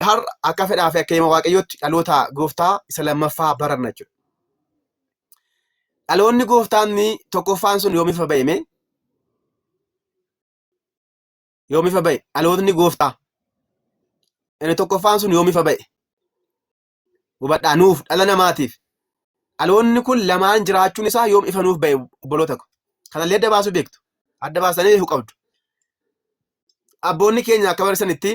Har'a akka fedhaa fi akka hima Waaqayyootti dhaloota gooftaa isa lammaffaa baranna jechuudha. Dhaloonni gooftaan tokkoffaan sun yoomifa ba'e mee? Yoomifa ba'e dhalootni gooftaa. Inni tokkoffaan sun yoomifa ba'e? Hubadhaa nuuf dhala namaatiif. Dhaloonni kun lamaan jiraachuun isaa yoom ifa nuuf ba'e obboloota ko. Kanallee adda baasuu beektu. Adda baasanii beekuu qabdu. abboonni keenya akka barreessanitti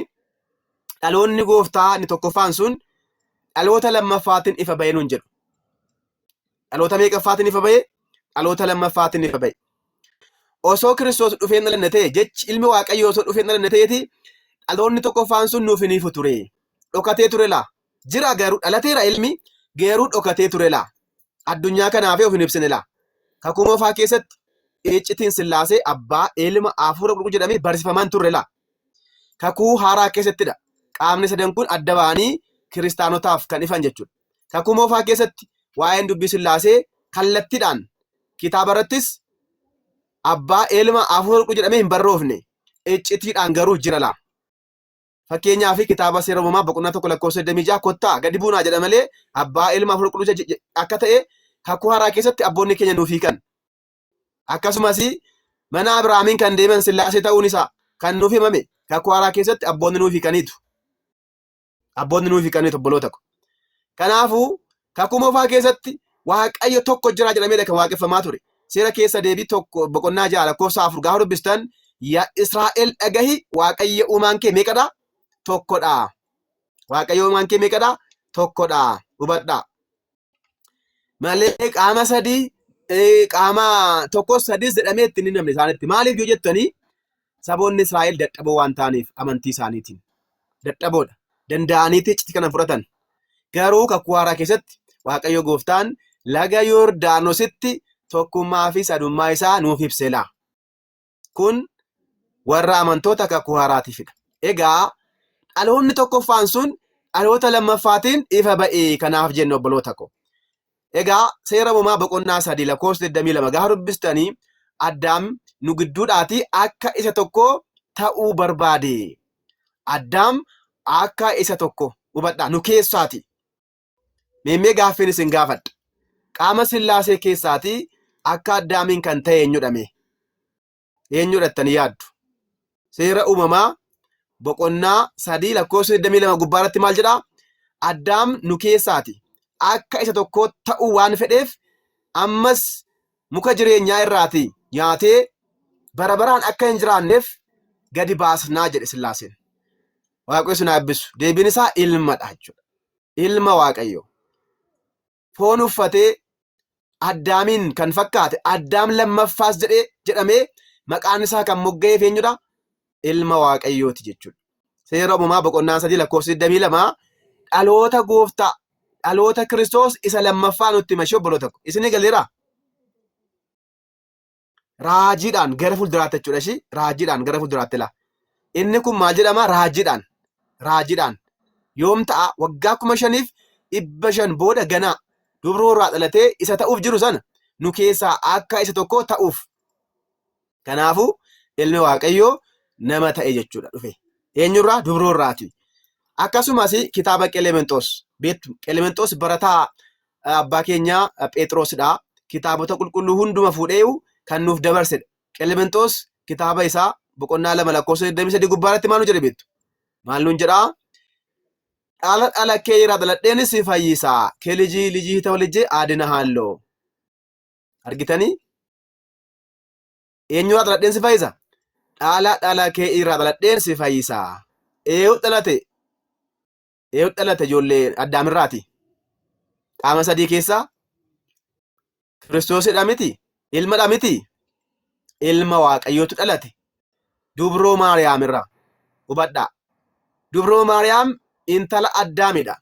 dhaloonni gooftaa inni tokkoffaan sun dhaloota lammaffaatiin ifa ba'ee nuun jedhu. Dhaloota meeqaffaatiin ifa ba'e? Dhaloota lammaffaatiin ifa ba'e. Osoo Kiristoos dhufee hin dhalanne ta'e jechi ilmi Waaqayyoo osoo dhufee hin dhalanne ta'eeti dhaloonni tokkoffaan sun nuuf hin ifu ture. Dhokatee ture laa Jira garuu dhalateera ilmi geeruu dhokatee ture laa. Addunyaa kanaafee of hin ibsine laa. Kakuu moofaa keessatti Iiccitiin Sillaasee abbaa, ilma, hafuura qulqulluu jedhamee barsiifamaa hin turre laa. Kakuu haaraa keessattidha qaamni sadan kun adda ba'anii kiristaanotaaf kan ifan jechuudha. Kakuu moofaa keessatti waa'een dubbii Sillaasee kallattiidhaan kitaaba irrattis abbaa, ilma, hafuura qulqulluu jedhamee hin barroofne. Iccitiidhaan garuu jira laa. Fakkeenyaa fi kitaaba seera uumamaa boqonnaa tokko lakkoofsa 26 kottaa gadi buunaa jedha malee abbaa ilma hafuura qulqulluu jedha akka ta'e kakuu haaraa keessatti abboonni keenya nuuf hiikan. Akkasumas mana Abiraamiin kan deeman sillaasee ta'uun isaa kan nuuf himame kakuu haaraa keessatti abboonni nuuf hiikaniitu. Abboonni nuuf hiikaniitu obboloota ko. Kanaafuu Kakuu Moofaa keessatti Waaqayyo tokko jira jedhameedha kan waaqeffamaa ture. Seera keessa deebii tokko boqonnaa ja'a lakkoofsa afur gaafa dubbistan yaa Israa'el dhagahi Waaqayyo uumaan kee meeqadha? Tokkodha. Waaqayyo uumaan kee meeqadha? Tokkodha. Hubadhaa. Malee qaama sadii eh, qaama tokkos sadis jedhamee itti hin himamne isaanitti. Maaliif yoo jettanii Saboonni Israa'el dadhaboo waan ta'aniif amantii isaaniitiin dadhaboodha. Danda'aniiti iccitii kana fudhatan. Garuu kakuu haaraa keessatti Waaqayyo gooftaan laga Yordaanositti tokkummaa fi sadummaa isaa nuuf ibseera. Kun warra amantoota kakuu haaraatiifidha. Egaa dhaloonni tokkoffaan sun dhaloota lammaffaatiin ifa ba'e kanaaf jenna obboloota koo. Egaa seera uumamaa boqonnaa sadii lakkoofsa 22 gaafa dubbistanii Addaam nu gidduudhaati akka isa tokko ta'uu barbaade. Addaam akka isa tokko hubadhaa nu keessaati. Meemmee gaaffiin isin gaafadha. Qaama sillaasee keessaati akka Addaamiin kan ta'e eenyudha mee? eenyudha jettanii yaaddu? Seera uumamaa boqonnaa sadii lakkoofsa 22 gubbaa irratti maal jedhaa? Addaam nu keessaati. Akka isa tokkoo ta'uu waan fedheef ammas muka jireenyaa irraati nyaatee bara baraan akka hin jiraanneef gadi baasnaa jedhe Sillaaseen. Waaqayyo sin haa eebbisu. Deebiin isaa ilmadha jechuudha. Ilma Waaqayyo. foon uffatee Addaamiin kan fakkaate Addaam lammaffaas jedhee jedhamee maqaan isaa kan mogga'eef eenyudha? Ilma Waaqayyooti jechuudha. Seera uumamaa boqonnaa sadii lakkoofsa 22 dhaloota gooftaa dhaloota Kiristoos isa lammaffaa nutti hima ishee obboloota ko. Isin galeera? raajiidhaan gara fuulduraatti jechuudha ishii raajiidhaan gara fuulduraatti laa inni kun maal jedhama raajiidhaan raajiidhaan yoom ta'a waggaa kuma shaniif dhibba shan booda ganaa dubroo irraa dhalatee isa ta'uuf jiru sana nu keessaa akka isa tokko ta'uuf kanaafuu ilmi waaqayyoo nama ta'e jechuudha dhufe eenyurraa dubroo irraati akkasumas kitaaba qelemenxoos beektu qelemenxoos barataa abbaa keenya Phexrosidha. Kitaabota qulqulluu hunduma fuudheeyu kan nuuf dabarsedha. Qelemenxoos kitaaba isaa boqonnaa lama lakkoofsa 23 gubbaa irratti maal nu jedhe beektu? Maal nuun jedhaa? Dhaala dhaala kee irraa dhaladheen si fayyisa. Kee lijii lijii hita walijjee aadina haalloo. Argitanii? Eenyu irraa dhaladheen si fayyisa? Dhaala dhaala kee irraa dhaladheen si fayyisa. Eeyuu dhalate Eewut dhalate ijoollee Addaamirraati. Qaama sadii keessaa Kiristoosidha miti, ilmadha miti, ilma Waaqayyootu dhalate. Dubroo Maariyaamirraa hubadhaa. Dubroo Maariyaam intala Addaamidha.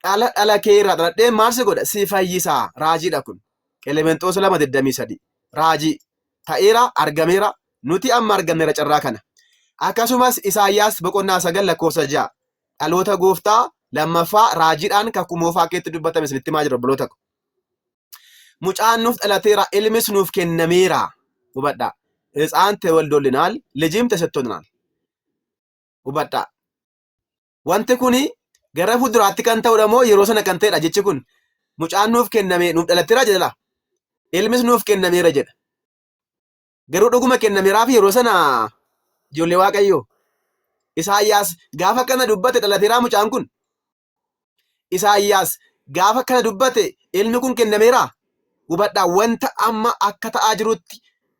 Dhala dhala kee irraa dhaladhee maal si godha? Si fayyisaa. Raajiidha kun. Qelemenxoos 2:23. Raajii. ta'eera, argameera. Nuti amma arganneera carraa kana. Akkasumas Isaayyaas boqonnaa 9 lakkoofsa 6 dhaloota gooftaa lammaffaa raajiidhaan kakuu moofaa keetti dubbatame isinitti himaa jira obboloota ko. Mucaan nuuf dhalateera, ilmis nuuf kennameera. Hubadhaa. Hitsaan tewaldoolinaal, lijim tesettooninaal. Hubadhaa. Wanti kun gara fuulduraatti kan ta'udha moo yeroo sana kan ta'edha jechi kun mucaan nuuf kenname nuuf dhalatteera jedha ilmis nuuf kennameera jedha garuu dhuguma kennameeraaf yeroo sana ijoollee waaqayyoo isaayyaas gaafa kana dubbate dhalateeraa mucaan kun isaayyaas gaafa kana dubbate ilmi kun kennameera hubadhaa wanta amma akka ta'aa jirutti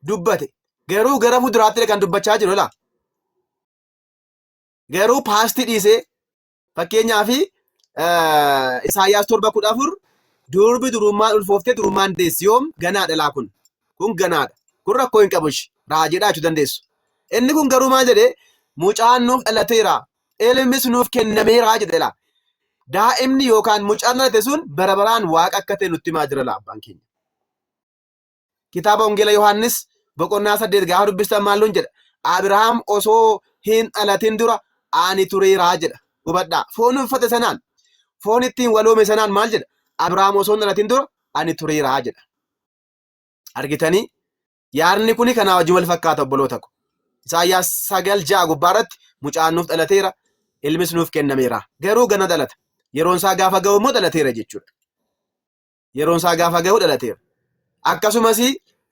dubbate garuu gara fuulduraatti kan dubbachaa jiru laa Garuu paastii dhiisee fakkeenyaaf Isaayyaas torba kudha afur durbi durummaan ulfooftee durummaan deessi yoom ganaadha laa kun kun ganaadha kun rakkoo hin qabu ishi raajiidhaa jechuu dandeessu. Inni kun garuu maal jedhee mucaan nuuf dhalateera ilmis nuuf kennameera jedhe laa daa'imni yookaan mucaan dhalate sun bara baraan waaqa akka ta'e nutti himaa jira laa abbaan keenya. Kitaaba Wangeela Yohaannis boqonnaa saddeet gaafa dubbistan maalluun jedha? Abirahaam osoo hin dhalatin dura ani tureeraa jedha. Hubadhaa. Foon uffate sanaan, foon ittiin waloome sanaan maal jedha? Abirahaam osoo hin dhalatin dura ani tureeraa jedha. Argitanii? Yaadni kuni kanaa wajjin wal fakkaata obboloota ko. Isaayyaas sagal ja'a gubbaa irratti mucaan nuuf dhalateera, ilmis nuuf kennameera. Garuu gana dhalata. Yeroon isaa gaafa ga'u immoo dhalateera jechuudha. yeroon isaa gaafa gahu dhalateera. Akkasumas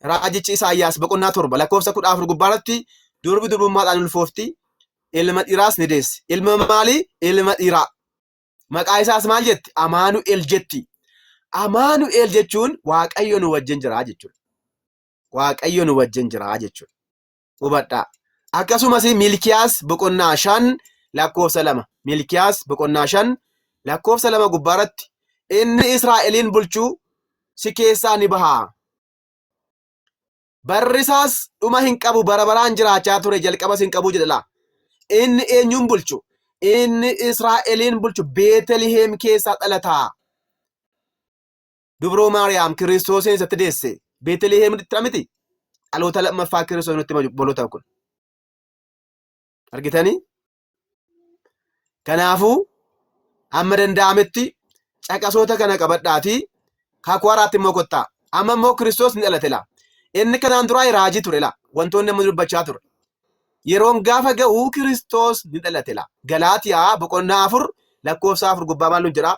raajichi Isaayyaas boqonnaa torba lakkoofsa kudha afur gubbaarratti durbi durbummaadhaan ulfoofti ilma dhiiraas ni deessi. Ilma maalii? Ilma dhiiraa. Maqaa isaas maal jetti? Amaanu'el jetti. Amaanu'el jechuun Waaqayyo nu wajjin jira jechuudha. Waaqayyo nu wajjin jira jechuudha. hubadhaa. Akkasumas Milkiyaas boqonnaa shan lakkoofsa lama Milkiyaas boqonnaa shan lakkoofsa lama gubbaarratti inni Israa'eliin bulchu si keessaa ni baha. Barri isaas dhuma hin qabu bara baraan jiraachaa ture jalqabas hin qabu jedha. Inni eenyuun bulchu? Inni Israa'eliin bulchu Beeteliheem keessaa dhalataa. dubroo Maariyaam Kiristoosiin isatti deesse Beeteliheem dhittira miti dhaloota lammaffaa Kiristoos nutti hima obboloota kun. Argitanii? Kanaafuu amma danda'ametti caqasoota kana qabadhaatii kakuu haaraatti immoo kottaa. Amma immoo Kiristoos ni dhalate laa. Inni kanaan duraa raajii ture laa. Wantoonni amma dubbachaa ture. Yeroon gaafa ga'u Kiristoos ni dhalate laa. Galaatiyaa boqonnaa afur lakkoofsa afur gubbaa maal nu jedhaa?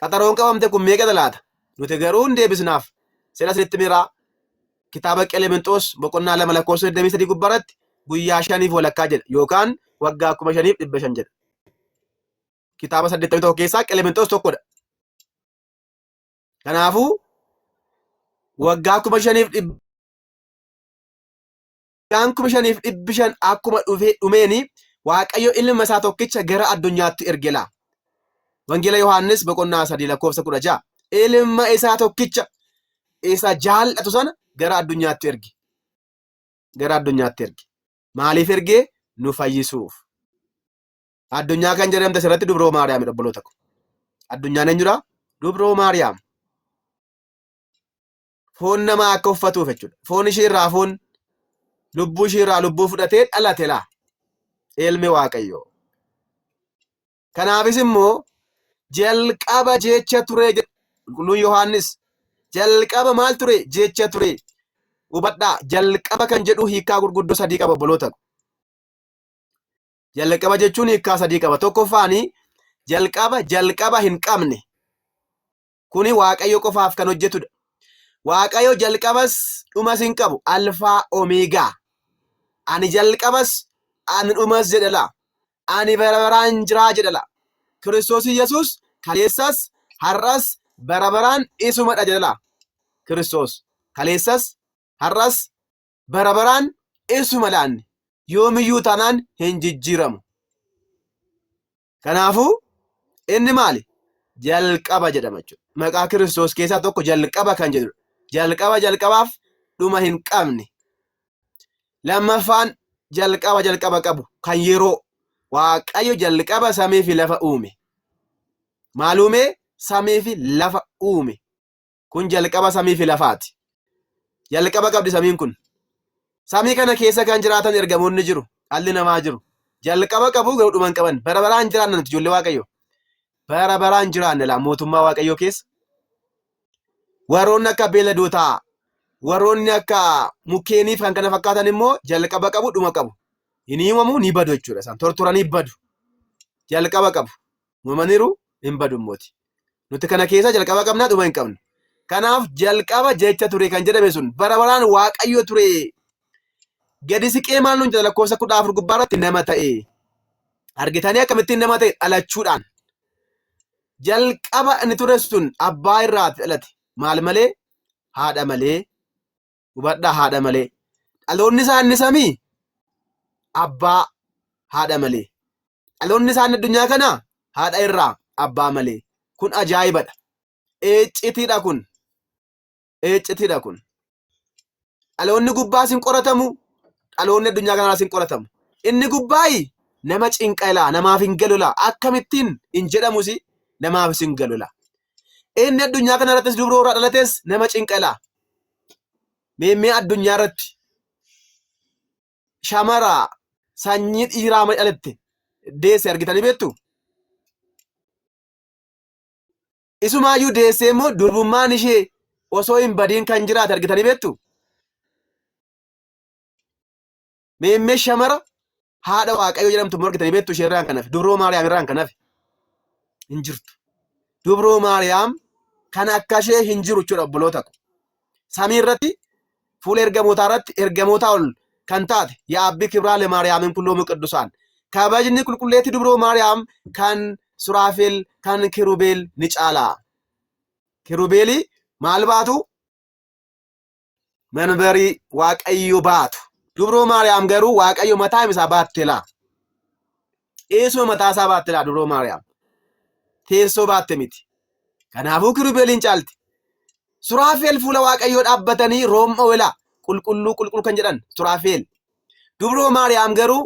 qaxaroon qabamte kun meeqadha laata? Nuti garuu hin deebisnaaf. Sila isinitti miraa kitaaba Qelemenxoos boqonnaa lama lakkoofsa 23 gubbaarratti guyyaa shaniif walakkaa jedha yookaan waggaa kuma shaniif dhibba shan jedha. Kitaaba 81 keessaa Qelemenxoos tokkodha. Kanaafuu waggaa kuma shaniif dhibba Isaan kuma shaniif dhibbi shan akkuma dhufee dhumeeni Waaqayyo ilma isaa tokkicha gara addunyaatti erge laa. Wangeela Yohaannis boqonnaa sadii lakkoofsa kudha ja'a. Ilma isaa tokkicha isa jaallatu sana gara addunyaatti erge. Gara addunyaatti erge. Maaliif ergee? Nu fayyisuuf. Addunyaa kan jedhamte asirratti dubroo Maariyaam obboloota ko. Addunyaan eenyudha? Dubroo Maariyaam. foon namaa akka uffatuuf jechuudha. Foon ishii irraa foon lubbuu ishii irraa lubbuu fudhatee dhalate laa ilmi waaqayyoo. Kanaafis immoo jalqaba jecha ture jedha qulqulluun Yohaannis. Jalqaba maal ture jecha ture. Hubadhaa jalqaba kan jedhu hiikaa gurguddoo sadii qaba obboloota. Jalqaba jechuun hiikaa sadii qaba. Tokkoffaani jalqaba jalqaba hin qabne. Kuni Waaqayyo qofaaf kan hojjetudha. Waaqayyo jalqabas dhumas hin qabu. Alfaa Omeegaa. Ani jalqabas ani dhumas jedhala. Ani bara baraan jiraa jedhala. Kiristoos Yesuus kaleessas har'as bara baraan isumadha jedhala. Kiristoos kaleessas har'as bara baraan isuma laanne yoomiyyuu taanaan hin jijjiiramu. Kanaafuu inni maali? Jalqaba jedhama jechuudha. Maqaa Kiristoos keessaa tokko jalqaba kan jedhudha. Jalqaba jalqabaaf dhuma hin qabne. Lammaffaan jalqaba jalqaba qabu kan yeroo Waaqayyo jalqaba samii fi lafa uume. Maal uume? Samii fi lafa uume. Kun jalqaba samii fi lafaati. Jalqaba qabdi samiin kun. Samii kana keessa kan jiraatan ergamoonni jiru. Dhalli namaa jiru. Jalqaba qabu garuu dhuma hin qaban. Bara baraan hin jiraanne nuti ijoollee Waaqayyoo. Bara baraan hin jiraanne laa mootummaa Waaqayyoo keessa. Warroonni akka beeladootaa, warroonni akka mukkeenii fi kan kana fakkaatan immoo jalqaba qabu dhuma qabu. Hin uumamu ni badu jechuudha isaan. Tortoranii badu. Jalqaba qabu. uumamaniiru hin badu immooti. Nuti kana keessa jalqaba qabna dhuma hin qabnu. Kanaaf jalqaba jecha ture kan jedhame sun bara baraan waaqayyo ture gadi siqee maal nuun jedha lakkoofsa kudha afur gubbaa irratti nama ta'e. Argitanii akkamittiin nama ta'e dhalachuudhaan. Jalqaba inni ture sun abbaa irraa dhalate maal malee haadha malee hubadhaa haadha malee dhaloonni isaa inni samii abbaa haadha malee dhaloonni isaa inni addunyaa kana haadha irraa abbaa malee kun ajaa'ibadha eeccitiidha kun eeccitiidha kun dhaloonni gubbaas hin qoratamu dhaloonni addunyaa kanaas hin qoratamu inni gubbaayi nama cinqalaa namaaf hin galolaa akkamittiin hin jedhamusi namaafis hin galolaa Inni addunyaa kana irrattis dubroo irraa dhalates nama cinqala. Meemmee addunyaa irratti shamara sanyii dhiiraa ma dhalatte deesse argitanii beektu? Isumaayyuu deessee immoo durbummaan ishee osoo hin badiin kan jiraate argitanii beektu? Meemmee shamara haadha waaqayyoo jedhamtu immoo argitanii beektu ishee irraan kanaaf dubroo maariyaam irraan kanaaf hin jirtu. Dubroo maariyaam kan akka ishee hin jiru jechuudha obboloota ko. Samii irratti fuula ergamootaa irratti ergamootaa ol kan taate yaabbii kibraa lemaariyaamin kulloomuu qiddusaan kabajni qulqulleetti dubroo maariyaam kan suraafeel kan kirubeel ni caala. Kirubeelii maal baatu? manbarii waaqayyo baatu. Dubroo Maariyaam garuu waaqayyo mataa isaa baatte laa. Eesuma mataa isaa baatte laa dubroo Maariyaam. Teessoo baatte miti. Kanaafuu kirubeeliin caalti. Suraafeel fuula waaqayyoo dhaabbatanii room'a welaa qulqulluu qulqulluu kan jedhan suraafeel. Dubroo Maariyaam garuu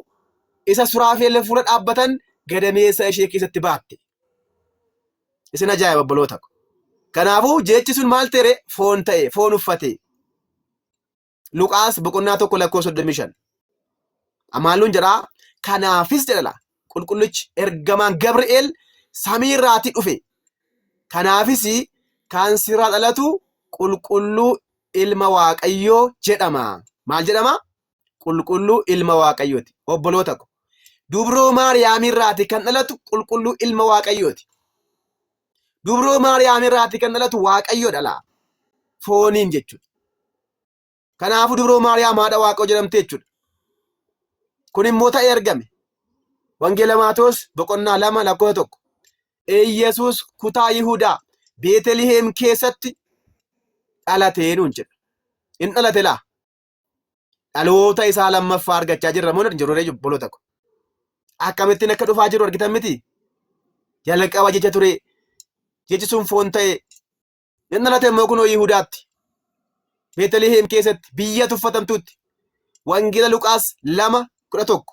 isa suraafeel fuula dhaabbatan gadameessa ishee keessatti baatte. Isin ajaa'iba obboloota ko. Kanaafuu jechi sun maal ta'e foon ta'e foon uffate. Luqaas boqonnaa tokko lakkoo 35. Amaalluun jedhaa kanaafis jedhala qulqullichi ergamaan Gabri'eel samii irraatii dhufe. Kanaafis kan sirraa dhalatu qulqulluu ilma Waaqayyoo jedhama. Maal jedhama? qulqulluu ilma waaqayyooti obboloota ko dubroo maariyaamirraati kan dhalatu qulqulluu ilma waaqayyooti dubroo maariyaamirraati kan dhalatu waaqayyo dhala fooniin jechuudha kanaafuu dubroo maariyaam haadha waaqayyo jedhamte jechuudha kun immoo ta'ee argame wangeela maatoos boqonnaa lama lakkoo tokko Iyyasuus kutaa Yihudaa Beeteliheem keessatti dhalatee nuun jedha. In dhalate laa? Dhaloota isaa lammaffaa argachaa jirra moo hin jirru obboloota ko. Akkamittiin akka dhufaa jiru argitan miti. Jalqaba jecha ture jechi sun foon ta'e inni dhalate immoo kunoo Yihudaatti. Beetaliheem keessatti biyya tuffatamtuutti. Wangeela Luqaas lama kudha tokko.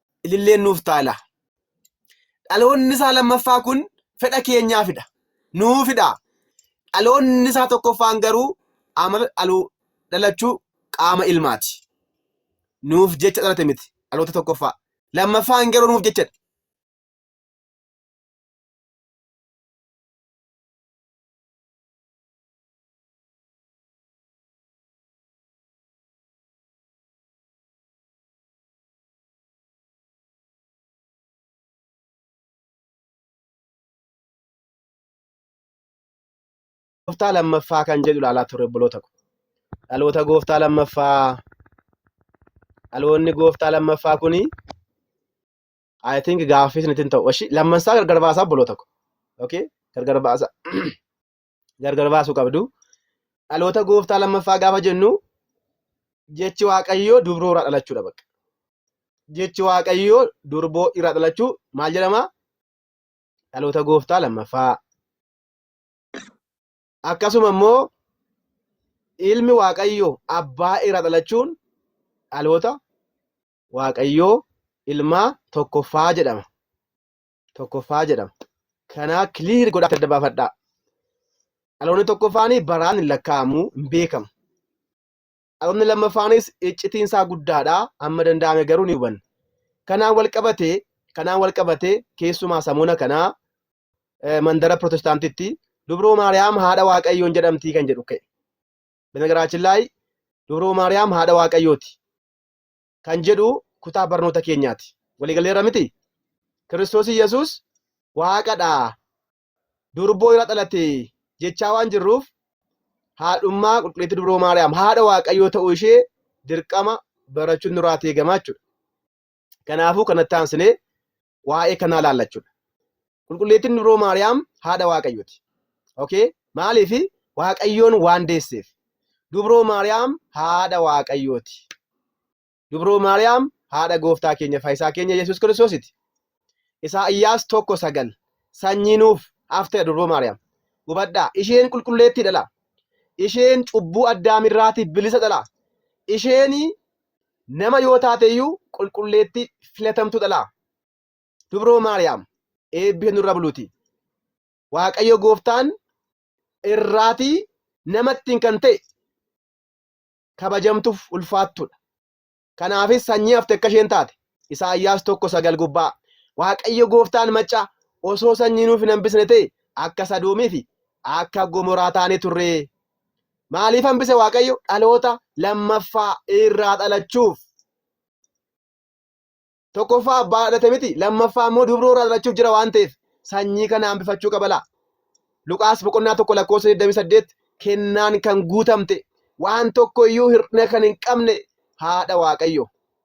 ililleen nuuf taala. Dhaloonni isaa lammaffaa kun fedha keenyaafidha. Nuufidha. Dhaloonni isaa tokkoffaan garuu amala dhaluu dhalachuu qaama ilmaati. Nuuf jecha dhalate miti dhaloota tokkoffaa. Lammaffaan garuu nuuf jechadha. gooftaa lammaffaa kan jedhu ilaalaa turre obboloota ko. Dhaloota gooftaa lammaffaa dhaloonni gooftaa lammaffaa kuni I think gaaffii isinitti hin ta'u. Oshi lammansaa gargar baasaa obboloota ko. Okay? Gargar baasaa. gargar baasuu qabdu. Dhaloota gooftaa lammaffaa gaafa jennu jechi waaqayyoo dubroo irraa dhalachuudha bakka. Jechi waaqayyoo durboo irraa dhalachuu maal jedhama? Dhaloota gooftaa lammaffaa. Akkasuma immoo ilmi waaqayyoo abbaa irraa dhalachuun dhaloota waaqayyoo ilmaa tokkoffaa jedhama. tokkoffaa jedhama. Kanaa clear godhaa adda baafadhaa. Dhaloonni tokkoffaan baraan hin lakkaa'amu hin beekamu. Dhaloonni lammaffaanis iccitiin isaa guddaadha. Amma danda'ame garuu ni hubanna. Kanaan wal qabatee kanaan wal qabatee keessumaa samoona kanaa eh, mandara pirootestaantitti dubroo maariyaam haadha waaqayyoon jedhamtii kan jedhu ka'e. Binagaraachillaay dubroo maariyaam haadha waaqayyooti. kan jedhu kutaa barnoota keenyaati. Waliigaleerra miti? Kiristoos Yesuus waaqadha. Durboo irra dhalate jechaa waan jirruuf haadhummaa qulqulleettii dubroo Maariyaam haadha waaqayyoo ta'uu ishee dirqama barachuun nurraa eegama jechuudha. Kanaafuu kanatti aansinee waa'ee kanaa ilaalla jechuudha. Qulqulleettiin Dubroo Maariyaam haadha Waaqayyooti. Okay? Maaliif Waaqayyoon waan deesseef. Dubroo Maariyaam haadha Waaqayyooti. Dubroo Maariyaam haadha gooftaa keenya faayisaa keenya Yesuus Kiristoositi. Isaayyaas tokko sagal sanyii nuuf hafteedha Dubroo Maariyaam. Hubadhaa isheen qulqulleettiidha laa. Isheen cubbuu addaamirraati bilisa dhala. Isheen Nama yoo taate iyyuu qulqulleettii filatamtuu dhalaa. Dubroo Maariyaam eebbisa nurra buluuti. Waaqayyo gooftaan irraatii namattiin kan ta'e kabajamtuuf ulfaattuudha. Kanaafis sanyii hafte akka isheen taate Isaayyaas 1:9 gubbaa Waaqayyo gooftaan macca osoo sanyii nuuf hin hambisne ta'e akka Sadoomii fi akka Gomoraa taane turre. Maaliif hambise Waaqayyo? Dhaloota lammaffaa irraa dhalachuuf. Tokkoffaa abbaa dhalate miti, lammaffaa immoo dubroo irraa dhalachuuf jira waan ta'eef sanyii kana hambifachuu qaba laa. Luqaas boqonnaa tokko lakkoofsa 28 kennaan kan guutamte waan tokko iyyuu hir'ina kan hin qabne haadha Waaqayyo.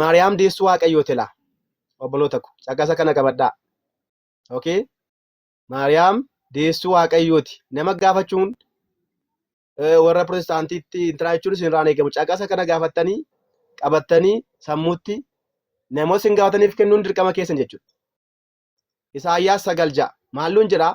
Maariyaam deessuu Waaqayyoo tila. Obboloota ko caqasa kana qabadhaa. Okay? Maariyaam deessuu Waaqayyooti. Nama gaafachuun warra pirootestaantiitti intiraa jechuun isin irraan eegamu. Caqasa kana gaafattanii qabattanii sammuutti namoota isin gaafataniif kennuun dirqama keessan jechuudha. Isaayyaas sagal ja'a. Maalluun jedhaa?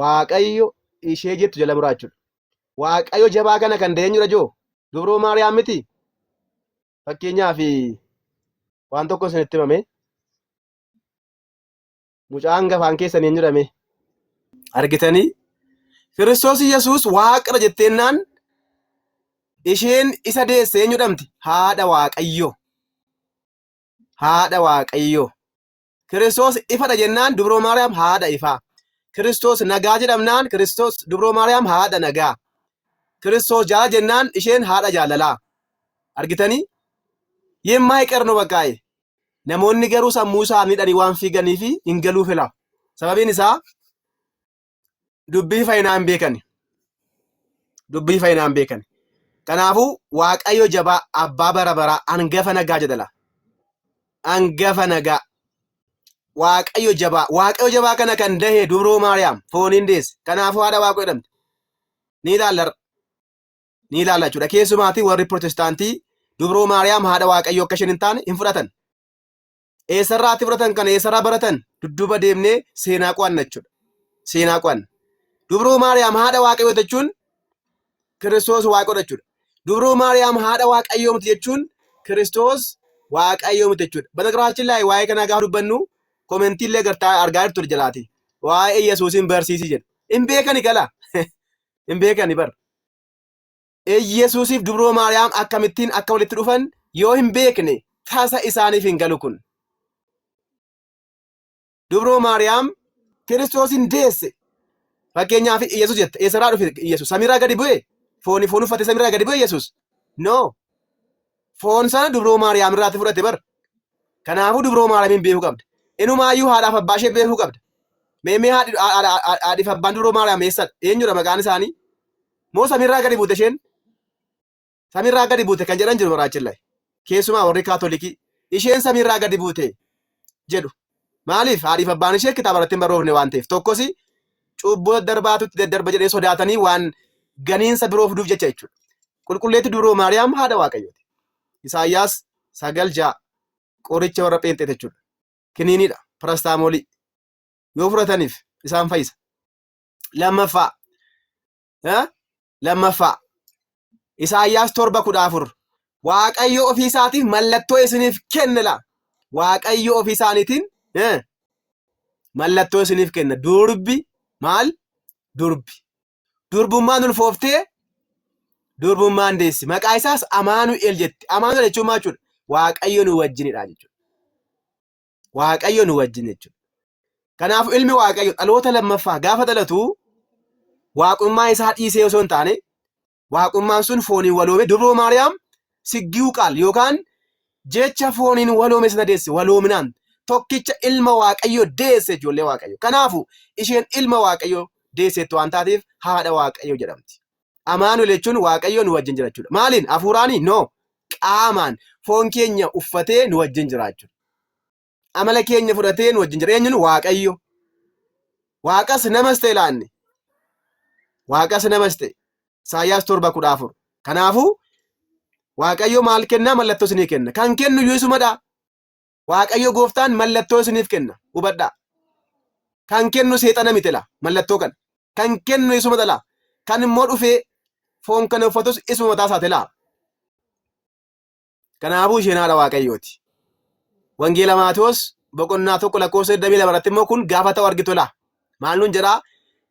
waaqayyo ishee jettu jala muraa jechuudha. Waaqayyo jabaa kana kan deenyudha joo dubroo maariyaam miti fakkeenyaaf waan tokko isinitti himame mucaan gafaan keessan hin jedhame argitanii Kiristoos Yesuus waaqadha jetteennaan isheen isa deesse eenyu jedhamti haadha waaqayyo haadha waaqayyo Kiristoos ifadha jennaan dubroo Maariyaam haadha ifaa. Kiristoos nagaa jedhamnaan Kiristoos dubroo Maariyaam haadha nagaa. Kiristoos jaala jennaan isheen haadha jaalalaa. Argitanii? Yeemaayiqer no baqqaa'e. Namoonni garuu sammuu isaaniidhaan waan fiiganiif hin galuu fila. Sababiin isaa dubbii fayyinaa hin beekani. Dubbii fayyinaa hin beekani. Kanaafuu Waaqayyo jabaa abbaa bara baraa angafa nagaa jedhala. Angafa nagaa. Waaqayyo jabaa. Waaqayyo jabaa kana kan dahe dubroo Maariyaam fooniin deesse. Kanaafuu haadha Waaqayyo jedhamte. Ni ilaalla har'a. Ni ilaalla jechuudha. Keessumaatii warri Pirotestaantii dubroo Maariyaam haadha Waaqayyo akka isheen hin taane hin fudhatan. eessarraa ati fudhatan kana eessarraa baratan dudduuba deemnee seenaa qo'anna jechuudha. Seenaa qo'anna. Dubruu Maariyaam haadha waaqayyoo jechuun Kiristoos waaqodha jechuudha. Dubruu Maariyaam haadha waaqayyoo miti jechuun Kiristoos waaqayyoo miti jechuudha. Banagraachin laay waa'ee kanaa gaafa dubbannu komentii illee gartaa argaa jirtu jalaati. Waa'ee Yesuusin barsiisi jedhu. Hin beekani gala. Hin beekani bar. Iyyasuusiif dubroo Maariyaam akkamittiin akka walitti dhufan yoo hin beekne tasa isaaniif hin galu kun. Dubroo Maariyaam Kiristoosiin deesse. Fakkeenyaaf Iyyasuus jette eessarraa dhufe Iyyasuus samiirraa gadi bu'e fooni foon uffate samiirraa gadi bu'e Iyyasuus. No. Foon sana dubroo Maariyaam irraatti fudhate bar. Kanaafuu dubroo Maariyaamiin beekuu qabda. Inumaayyuu haadhaaf abbaa ishee beekuu qabda. Meemee haadhiif abbaan dubroo Maariyaam eessadha? Eenyudha maqaan isaanii? Moo samiirraa gadi buute isheen? Samiirraa gadi buute kan jedhan jiru baraachillaa. Keessumaa warri kaatolikii isheen samiirraa gadi buute jedhu. Maaliif haadhiif abbaan ishee kitaaba irratti hin barroofne waan ta'eef tokkosi cubbuu daddarbaatutti daddarba jedhee sodaatanii waan ganiinsa biroo fiduuf jecha jechuudha. Qulqulleetti dubroo Maariyaam haadha Waaqayyooti. Isaayyaas sagal ja'a qoricha warra pheenxee jechuudha. Kiniiniidha, parastaamoolii. Yoo fudhataniif isaan fayyisa. lammaffaa eh, lammaffaa Isaayyaas torba kudha afur Waaqayyo ofii isaatiif mallattoo isiniif kenna laa Waaqayyo ofii isaaniitiin eh, mallattoo isiniif kenna durbi maal durbi durbummaan ulfooftee durbummaan deessi maqaa isaas amaanu'el jetti amaanu'el jechuun maal jechuudha waaqayyo nu wajjinidha jechuudha Waaqayyo nu wajjin jechuudha. Kanaaf ilmi Waaqayyo dhaloota lammaffaa gaafa dhalatu waaqummaa isaa dhiisee osoo hin taane waaqummaan sun fooniin waloome dubroo Maariyaam siggiu qaal yookaan jecha fooniin waloome sana deesse waloominaan tokkicha ilma Waaqayyo deesse ijoollee Waaqayyo. Kanaafu isheen ilma Waaqayyo deesseetti waan taateef haadha Waaqayyo jedhamti. Amaanu'el jechuun Waaqayyoo nu wajjin jira jechuudha. Maaliin? Hafuuraanii? No. Qaamaan foon keenya uffatee nu wajjin jira jechuudha. Amala keenya fudhatee nu wajjin jira. Eenyuun? Waaqayyo. Waaqas namas ta'e laanne. Waaqas namas ta'e. Isaayyaas torba kudha afur. Kanaafuu Waaqayyo maal kennaa? Mallattoo isinii kenna. Kan kennu iyyuu isumadha. Waaqayyo gooftaan mallattoo isiniif kenna. Hubadhaa. Kan kennu seexana miti laa mallattoo kana. Kan kennu isuma dhalaa. Kan immoo dhufee foon kana uffatus isuma mataa isaati laa. Kanaafuu isheen haadha Waaqayyooti. Wangeela Maatewos boqonnaa tokko lakkoofsa 22 irratti immoo kun gaafa ta'u argitu laa. Maal nuun jedhaa?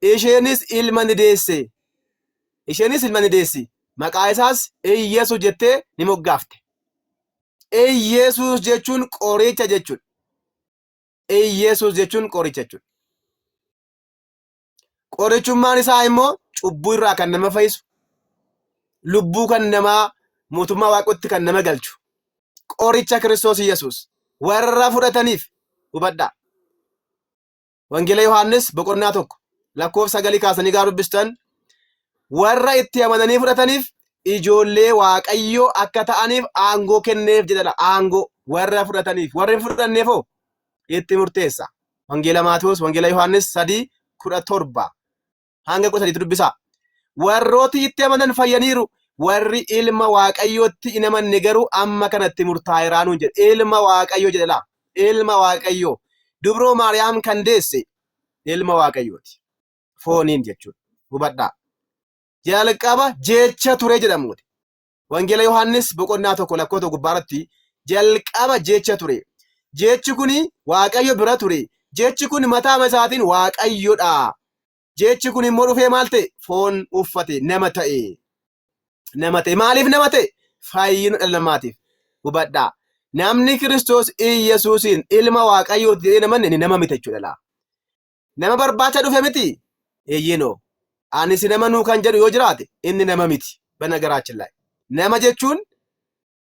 Isheenis ilma ni deesse. Isheenis ilma ni deessi. Maqaa isaas Iyyesu jettee ni moggaafte. Iyyasuus jechuun qoricha jechuudha. Iyyasuus jechuun qoricha jechuudha. Qorichummaan isaa immoo cubbuu irraa kan nama fayyisu, lubbuu kan namaa mootummaa waaqotti kan nama galchu. Qoricha Kiristoos Iyyasuus warra fudhataniif hubadhaa. Wangeela Yohaannis boqonnaa tokko lakkoofsa sagalii kaasanii gaafa dubbistan warra itti amananii fudhataniif ijoollee waaqayyoo akka ta'aniif aangoo kenneef jedhadha. Aangoo warra fudhataniif warri hin fudhanneef hoo itti murteessa. Wangeela Maatewos, Wangeela Yohaannis sadii kudha torba. hanga kudha sadiitti dubbisaa. Warrooti itti amanan fayyaniiru. Warri ilma waaqayyootti hin amanne garuu amma kanatti murtaa'eeraa nuun jedhe. Ilma waaqayyoo jedhe laa. Ilma waaqayyoo. Dubroo Maariyaam kan deesse ilma waaqayyooti. Fooniin jechuudha. Hubadhaa. Jalqaba jecha ture jedhamuuti. Wangeela Yohaannis boqonnaa tokko lakkoota gubbaarratti jalqaba jecha ture. Jechi kun Waaqayyo bira ture. Jechi kun mataama isaatiin Waaqayyodha. Jechi kun immoo dhufee maal ta'e? Foon uffate, nama ta'e. Nama ta'e. Maaliif nama ta'e? Fayyina dhala namaatiif. Hubadhaa. Namni Kiristoos Iyyasuusiin ilma Waaqayyooti jedhee namanne inni nama miti jechuudha laa. Nama barbaacha dhufe miti? Eeyyeenoo. Ani si nama nuu kan jedhu yoo jiraate inni nama miti. Banagaraachin laay. Nama jechuun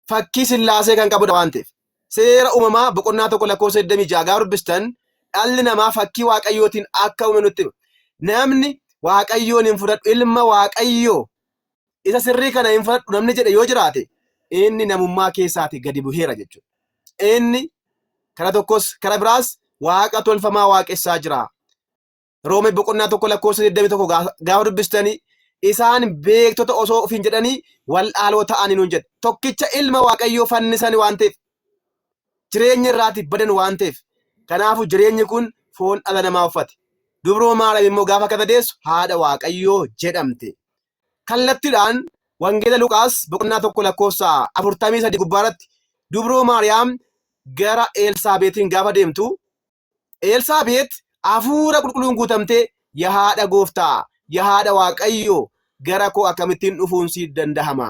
fakkii sillaasee kan qabudha waan ta'eef. Seera uumamaa boqonnaa tokko lakkoofsa 26 gaafa dubbistan dhalli namaa fakkii waaqayyootiin akka uume nutti hima. Namni waaqayyoon hin fudhadhu ilma waaqayyoo Isa sirrii kana hin fudhadhu namni jedhe yoo jiraate inni namummaa keessaati gadi buheera jechuudha. Inni kara tokkos kara biraas waaqa tolfamaa waaqessaa jira. Roome boqonnaa tokko lakkoofsa 21 gaa- gaafa dubbistanii isaan beektota osoo ofiin jedhanii wal'aaloo ta'anii nuun jedhe. Tokkicha ilma waaqayyoo fannisan waan ta'eef jireenya irraati badan waan ta'eef kanaafuu jireenyi kun foon dhala namaa uffate. Dubroo Maariyaam immoo gaafa akka dadeessu haadha waaqayyoo jedhamte. kallattidhaan Wangeela Luqaas boqonnaa 1 lakkoofsa 43 gubbaarratti dubroo Maariyaam gara Eelsaabeetiin gaafa deemtu Eelsaabeet hafuura qulqulluun guutamtee yaa haadha gooftaa yaa haadha waaqayyoo gara koo akkamittiin dhufuun siif dandahama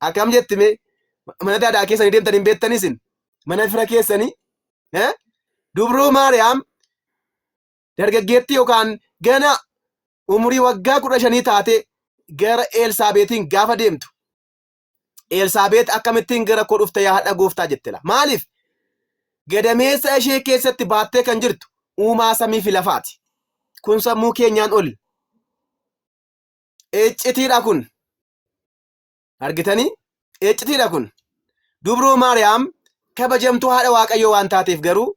Akkam jetti mee mana daadaa keessanii deemtanii hin beektanii isin mana fira keessanii eh? dubroo maariyaam dargaggeettii yookaan gana umurii waggaa kudha shanii taate gara Eelsaabeetiin gaafa deemtu Eelsaabeet akkamittiin gara koo dhufte yaa hadha gooftaa jette laa maaliif gadameessa ishee keessatti baattee kan jirtu uumaa samii fi lafaati kun sammuu keenyaan ol iccitiidha kun argitanii eeccitiidha kun dubroo maariyaam kabajamtuu haadha waaqayyoo waan taateef garuu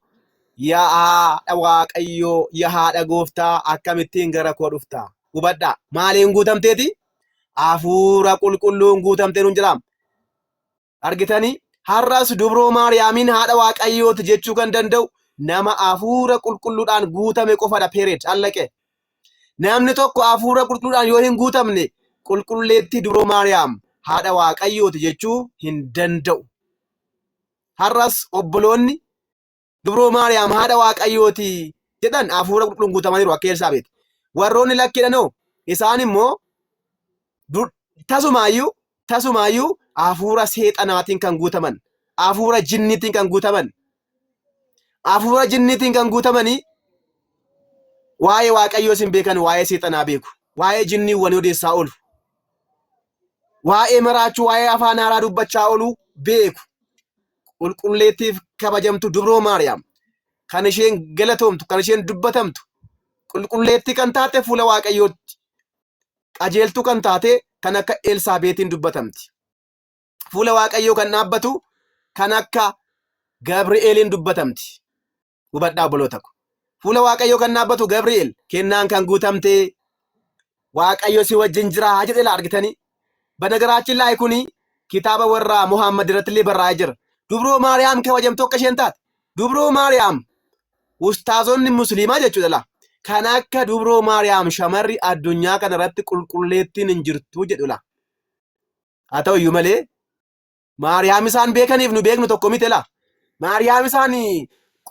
yaa haadha waaqayyoo yaa haadha gooftaa akkamittiin gara koo dhufta hubadhaa maaliin guutamteeti hafuura qulqulluun guutamtee nuun jiraam Argitanii? Har'as dubroo Maariyaamiin haadha Waaqayyooti jechuu kan danda'u nama hafuura qulqulluudhaan guutame qofadha. Peereed allaqe. Namni tokko hafuura qulqulluudhaan yoo hin guutamne qulqulleetti dubroo Maariyaam haadha Waaqayyooti jechuu hin danda'u. Har'as obboloonni Dubroo Maariyaam haadha Waaqayyooti jedhan hafuura qulqulluun guutamaniiru akka Elsaabeet. Warroonni lakkiidhan hoo isaan immoo tasumaayyuu tasumaayyuu hafuura seexanaatiin kan guutaman, hafuura jinniitiin kan guutaman, hafuura jinniitiin kan guutamanii waa'ee Waaqayyoo isin beekan waa'ee seexanaa beeku, waa'ee jinniiwwanii odeessaa oolu, waa'ee maraachuu, waa'ee afaan haaraa dubbachaa oolu beeku. qulqulleettiif kabajamtu dubroo Maariyaam kan isheen galatoomtu kan isheen dubbatamtu qulqulleettii kan taate fuula waaqayyootti qajeeltuu kan taate kan akka Elsaabeetiin dubbatamti. Fuula waaqayyoo kan dhaabbatu kan akka Gabri'eeliin dubbatamti. Hubadhaa obboloota ko. Fuula Waaqayyoo kan dhaabbatu Gabri'eel kennaan kan guutamtee Waaqayyo si wajjin jiraa jedhe laa argitanii. Banagaraachin laay kuni kitaaba warraa Muhammad irratti illee barraa'ee jira. Dubroo Maariyaam kabajamtu akka isheen taate. Dubroo Maariyaam ustaazonni musliimaa jechuudha laa. Kan akka dubroo Maariyaam shamarri addunyaa kana irratti qulqulleettiin hin jirtu jedhu laa. Haa ta'u iyyuu malee Maariyaam isaan beekaniif nu beeknu tokko miti laa. Maariyaam isaan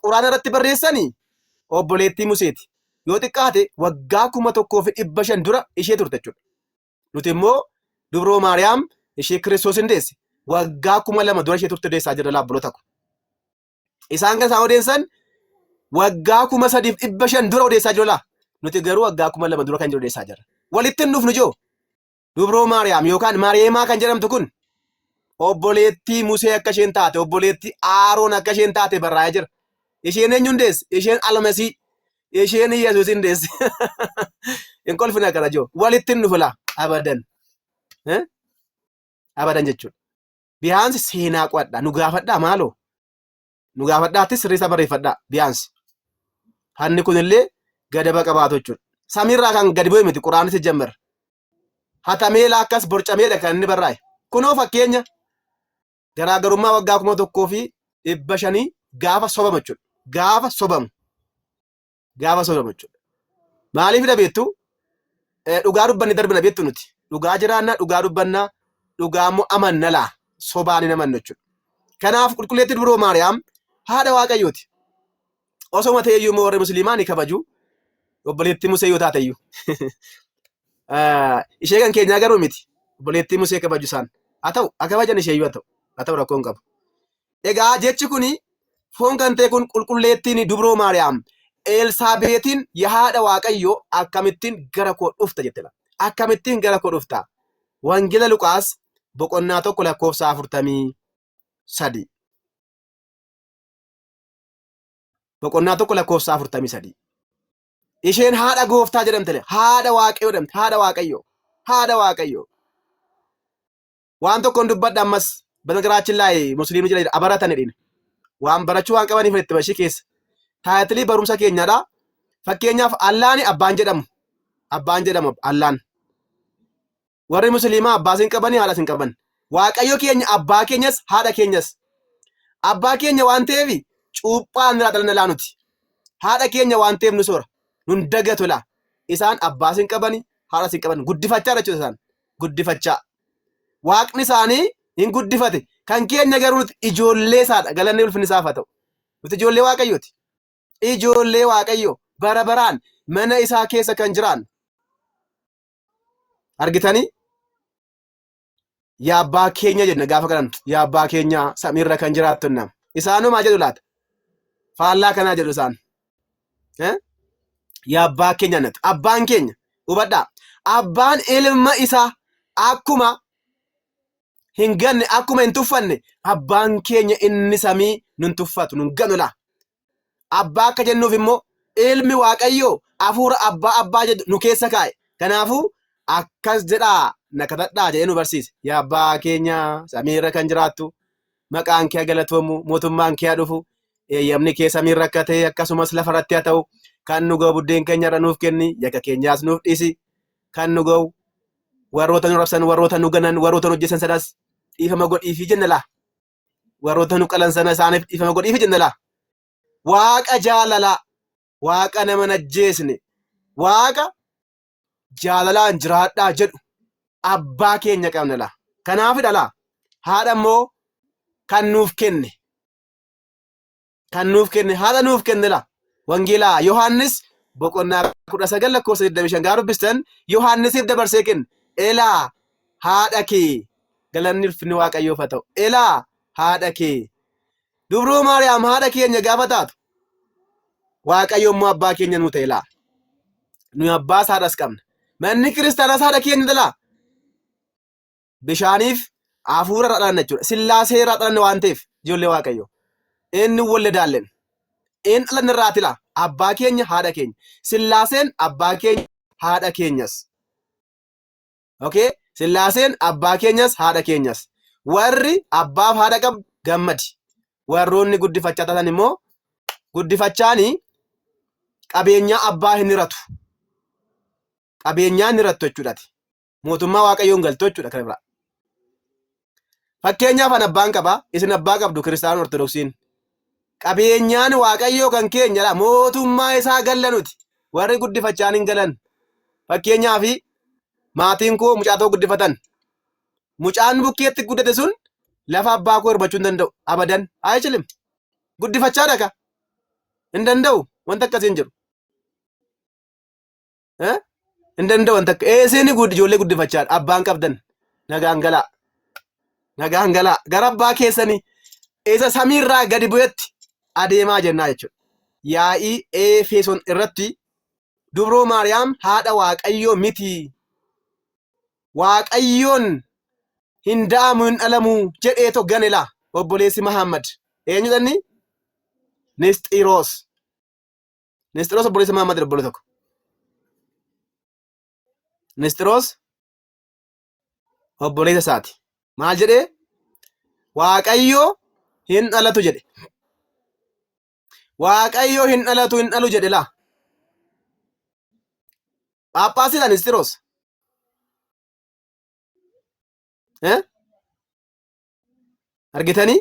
quraana irratti barreessani obboleettii Museeti. Yoo xiqqaate waggaa kuma tokkoo fi dhibba shan dura ishee turte jechuudha. Nuti immoo dubroo Maariyaam ishee Kiristoos hin deesse waggaa kuma lama dura ishee turte deessaa jirra laabboloota ko. Isaan kan isaan odeessan waggaa kuma sadiif dhibba shan dura odeessaa jiru laa. Nuti garuu waggaa kuma lama dura kan jiru odeessaa jirra. Walitti hin dhufnu joo. Dubroo Maariyaam yookaan Maariyeemaa kan jedhamtu kun obboleettii Musee akka isheen taate, obboleettii Aaroon akka isheen taate barraa'ee jira. Isheen eenyuun deesse? Isheen Almasii. Isheen Yesuusin deesse. Hin kolfina kana joo. Walitti hin dhufu laa. Abadan. Eh? Abadan jechuudha. Biyaansi seenaa qo'adhaa. Nu gaafadhaa maaloo. nu gaafadhaa attis sirreessaa barreeffadhaa biyaansi. Hanni kunillee gadaba qabaatu jechuudha. Samiirraa kan gadi bu'e miti quraanni sijjammer. Hatamee laakkas borcameedha kan inni barraa'e. Kunoo fakkeenya garaagarummaa waggaa kuma tokkoo fi dhibba shanii gaafa sobamu jechuudha. Gaafa sobamu. gaafa sooramu jechuudha. Maaliif na beektu? Dhugaa dubbanne darbina beektu nuti. Dhugaa jiraanna, dhugaa dubbanna, dhugaa immoo amanna laa sobaan hin amannu jechuudha. Kanaaf qulqulleetti dubroo Maariyaam haadha Waaqayyooti. Osoma ta'e iyyuu immoo warri musliimaa ni kabaju. Obboleettii Musee yoo taate iyyuu. Ishee kan keenyaa garuu miti. Obboleettii Musee kabaju isaan. Haa ta'u, haa kabajan ishee iyyuu haa ta'u. Haa ta'u rakkoo hin qabu. Egaa jechi kun foon kan ta'e kun qulqulleettiin dubroo Maariyaam Eelsaabeetiin yaa haadha Waaqayyoo akkamittiin gara koo dhufta jettedha. Akkamittiin gara koo dhufta? Wangeela Luqaas boqonnaa tokko lakkoofsa afurtamii sadii. Boqonnaa tokko lakkoofsa afurtamii sadii. Isheen haadha gooftaa jedhamtele haadha Waaqayyoo jedhamte haadha Waaqayyoo haadha Waaqayyoo. waan tokkoon dubbadha ammas banagaraachin laayee musliimni jira jedha abaratan jedhine waan barachuu waan qabaniif itti bashii keessa taayitilii barumsa keenyadha fakkeenyaaf allaani abbaan jedhamu abbaan jedhamu allaan warri musliimaa abbaas hin qabani haadhas hin qaban waaqayyo keenya abbaa keenyas haadha keenyas abbaa keenya waan ta'eef cuuphaan irraa dhalana laanuti haadha keenya waan ta'eef nu soora nun dagatu laa isaan abbaas hin qabani haadhas hin qaban guddifachaa jechuudha isaan guddifachaa Waaqni isaanii hin guddifate. Kan keenya garuu nuti ijoollee isaadha. Galanni ulfinni isaaf haa ta'u. Nuti ijoollee Waaqayyooti. Ijoollee Waaqayyo bara baraan mana isaa keessa kan jiraannu. Argitanii? Yaa abbaa keenya jenna gaafa kadhannu. Yaa abbaa keenya samiirra kan jiraattu nam. Isaanuma jedhu laata? Faallaa kanaa jedhu isaan. yaa abbaa keenya natu abbaan keenya hubadhaa abbaan ilma isaa akkuma hin ganne akkuma hin tuffanne abbaan keenya inni samii nun tuffatu nun ganulaa abbaa akka jennuuf immoo ilmi waaqayyoo hafuura abbaa abbaa jedhu nu keessa kaa'e kanaafuu akkas jedhaa na kadhadhaa jedhee nu barsiise yaa abbaa keenya samii irra kan jiraattu maqaan kee galatoomu mootummaan kee dhufu eeyyamni kee samiin rakkatee akkasumas lafa irratti haa ta'u kan nu ga'u buddeen keenya irra nuuf kenni yakka keenyaas nuuf dhiisi kan nu ga'u warroota nu rabsan warroota nu ganan warroota nu hojjetan sanas dhiifama godhiifi jenna laa warroota nu qalan sana isaaniif dhiifama godhiifi jenna laa waaqa jaalalaa waaqa nama najjeesne waaqa jaalalaan jiraadhaa jedhu abbaa keenya qabna laa. Kanaafidha laa haadha immoo kan nuuf kenne. Kan nuuf kenne haadha nuuf kenne laa. Wangeelaa Yohaannis boqonnaa kudha sagal lakkoofsa 25 gaafa dubbistan Yohaannisiif dabarsee kenne. Elaa haadha kee galanni ulfinni waaqayyoof haa ta'u. Elaa haadha kee Dubroo Maariyaam haadha keenya gaafa taatu Waaqayyo immoo abbaa keenya nuu ta'e laa. Nuyi abbaas haadhas qabna. Manni kiristaanaas haadha keenya dhalaa. Bishaaniif hafuura irraa dhalanna jechuudha. Sillaasee irraa dhalanna waan ta'eef ijoollee Waaqayyo. Inni walda daallen. Inni dhalanna irraa tila. Abbaa keenya haadha keenya. Sillaaseen abbaa keenya haadha keenyas. Okay? Sillaaseen abbaa keenyas haadha keenyas. Warri abbaaf haadha qabdu gammadi. Warroonni guddifachaa taatan immoo guddifachaani qabeenyaa abbaa hin hiratu. Qabeenyaa hin hirattu jechuudhaati. Mootummaa Waaqayyoon galtu jechuudha kana biraa. Fakkeenyaaf an abbaan qaba, isin abbaa qabdu Kiristaanota Ortodoksiin. Qabeenyaan Waaqayyoo kan keenyadha. Mootummaa isaa galla nuti. Warri guddifachaan hin galan. Fakkeenyaaf maatiin koo mucaa tokko guddifatan. Mucaan bukkeetti guddate sun lafa abbaa koo hirbachuu hin danda'u. Abadan. Ayichilim. Guddifachaa dhaqa. Hin danda'u. Wanta akkasii hin jiru. Eh? hin danda'an takka eeseen gudd ijoollee guddifachaa abbaan qabdan nagaan galaa nagaan galaa gara abbaa keessanii isa samiirraa gadi bu'etti adeemaa jennaa jechuudha. Yaa'ii Efeeson irratti dubroo Maariyaam haadha Waaqayyoo miti. Waaqayyoon hin da'amu hin dhalamu jedheeto ganela obboleessi Mahammad. Eenyutanni? Nisxiroos. Nisxiroos obboleessa Maamad obbolee tokko. Nisxiroos obboleessa isaati. Maal jedhee? Waaqayyo hin dhalatu jedhe. Waaqayyo hin dhalatu hin dhalu jedhe laa. Phaaphaasiidha Nisxiroos. Eh? Argitanii?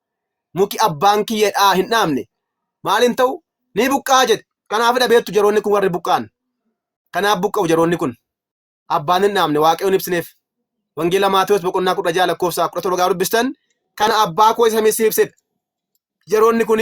muki abbaan kiyya dhaa hin dhaabne maal hin ta'u ni buqqa'a jedhe. Kanaafidha beektu jaroonni kun warri buqqa'an. Kanaaf buqqa'u jaroonni kun. Abbaan hin dhaabne waaqayyoon ibsineef. Wangeela Maatewos boqonnaa kudha ja'a lakkoofsa kudha torba gaafa dubbistan kana abbaa koo isa samii siif ibsedha. Jaroonni kun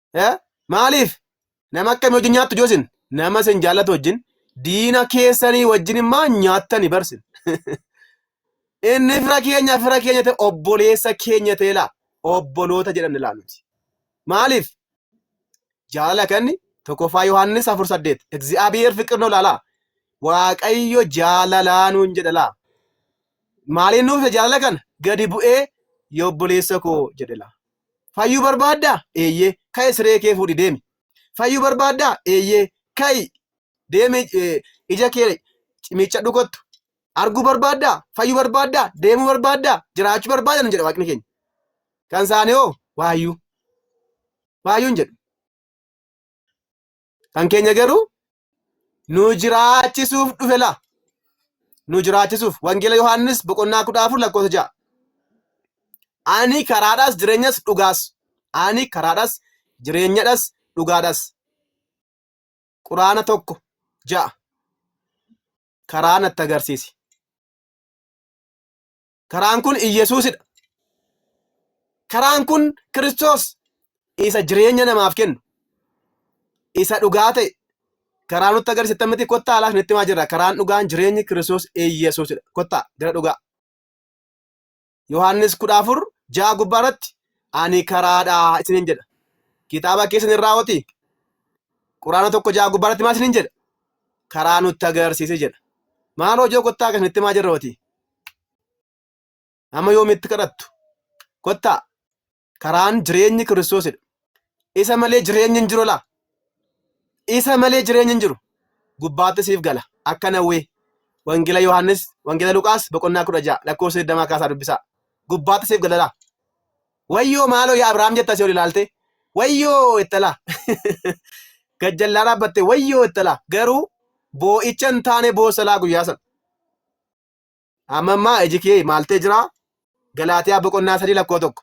Eh? Maaliif? Nama akkamii wajjin nyaattu joosin? Nama isin jaallatu wajjin diina keessanii wajjin immaa nyaattani barsin. Inni fira keenya fira keenya ta'e obboleessa keenya ta'e laa obboloota jedhamne laa nuti. Maaliif? Jaalala kanni tokkoffaa Yohaannis afur saddeet. Egzi'aabiyeer fiqir noo laalaa. Waaqayyo jaalalaa nuun jedha laa. Maaliin nuuf jaalala kana? Gadi bu'ee obboleessa koo jedhe laa. Fayyuu barbaaddaa? Eeyyee. Ka'i siree kee fuudhi deemi. Fayyuu barbaaddaa? Eeyyee. Ka'i deemi ija kee miiccadhu kottu. Arguu barbaaddaa? Fayyuu barbaaddaa? Deemuu barbaaddaa? Jiraachuu barbaadda nun jedha waaqni keenya. Kan isaanii hoo waayyuu. Waayyuun jedhu. Kan keenya garuu nu jiraachisuuf dhufe laa nu jiraachisuuf wangeela Yohaannis boqonnaa kudha afur lakkoofsa ja'a. Ani karaadhas jireenyas dhugaas. Ani karaadhas jireenyadhas dhugaadhas. Quraana tokko ja'a. Karaa natti agarsiisi. Karaan kun Iyyasuusidha. Karaan kun Kiristoos isa jireenya namaaf kennu, isa dhugaa ta'e, karaa nutti agarsiisan miti kottaa alaas nutti himaa jirra. Karaan dhugaan jireenyi Kiristoos Iyyasuusidha. Kottaa gara dhugaa. Yohaannis kudha afur ja'a gubbaa irratti ani karaadha isiniin jedha. Kitaaba keessan irraa hoti quraana tokko ja'a gubbaa irratti maal isiniin jedha? Karaa nutti agarsiise jedha. Maal hojii kottaa akkasinitti himaa jirra hoti? Amma yoomitti kadhattu? Kottaa karaan jireenyi Kiristoosidha. Isa malee jireenyi hin jiru laa. Isa malee jireenyi hin jiru. Gubbaatti siif gala. Akka nawwee. Wangeela Yohaannis, Wangeela Luqaas boqonnaa kudha ja'a lakkoofsa digdamaa kaasaa dubbisaa. Gubbaatti siif gala laa. Wayyoo maaloo yaa Abiraam jetta si ol ilaaltee. Wayyoo jetta laa. Gajjallaa dhaabbattee wayyoo jetta laa. Garuu boo'icha hin taane boossa laa guyyaa sana. Amma ammaa iji kee maal ta'e jira? Galaatiyaa boqonnaa sadii lakkoo tokko.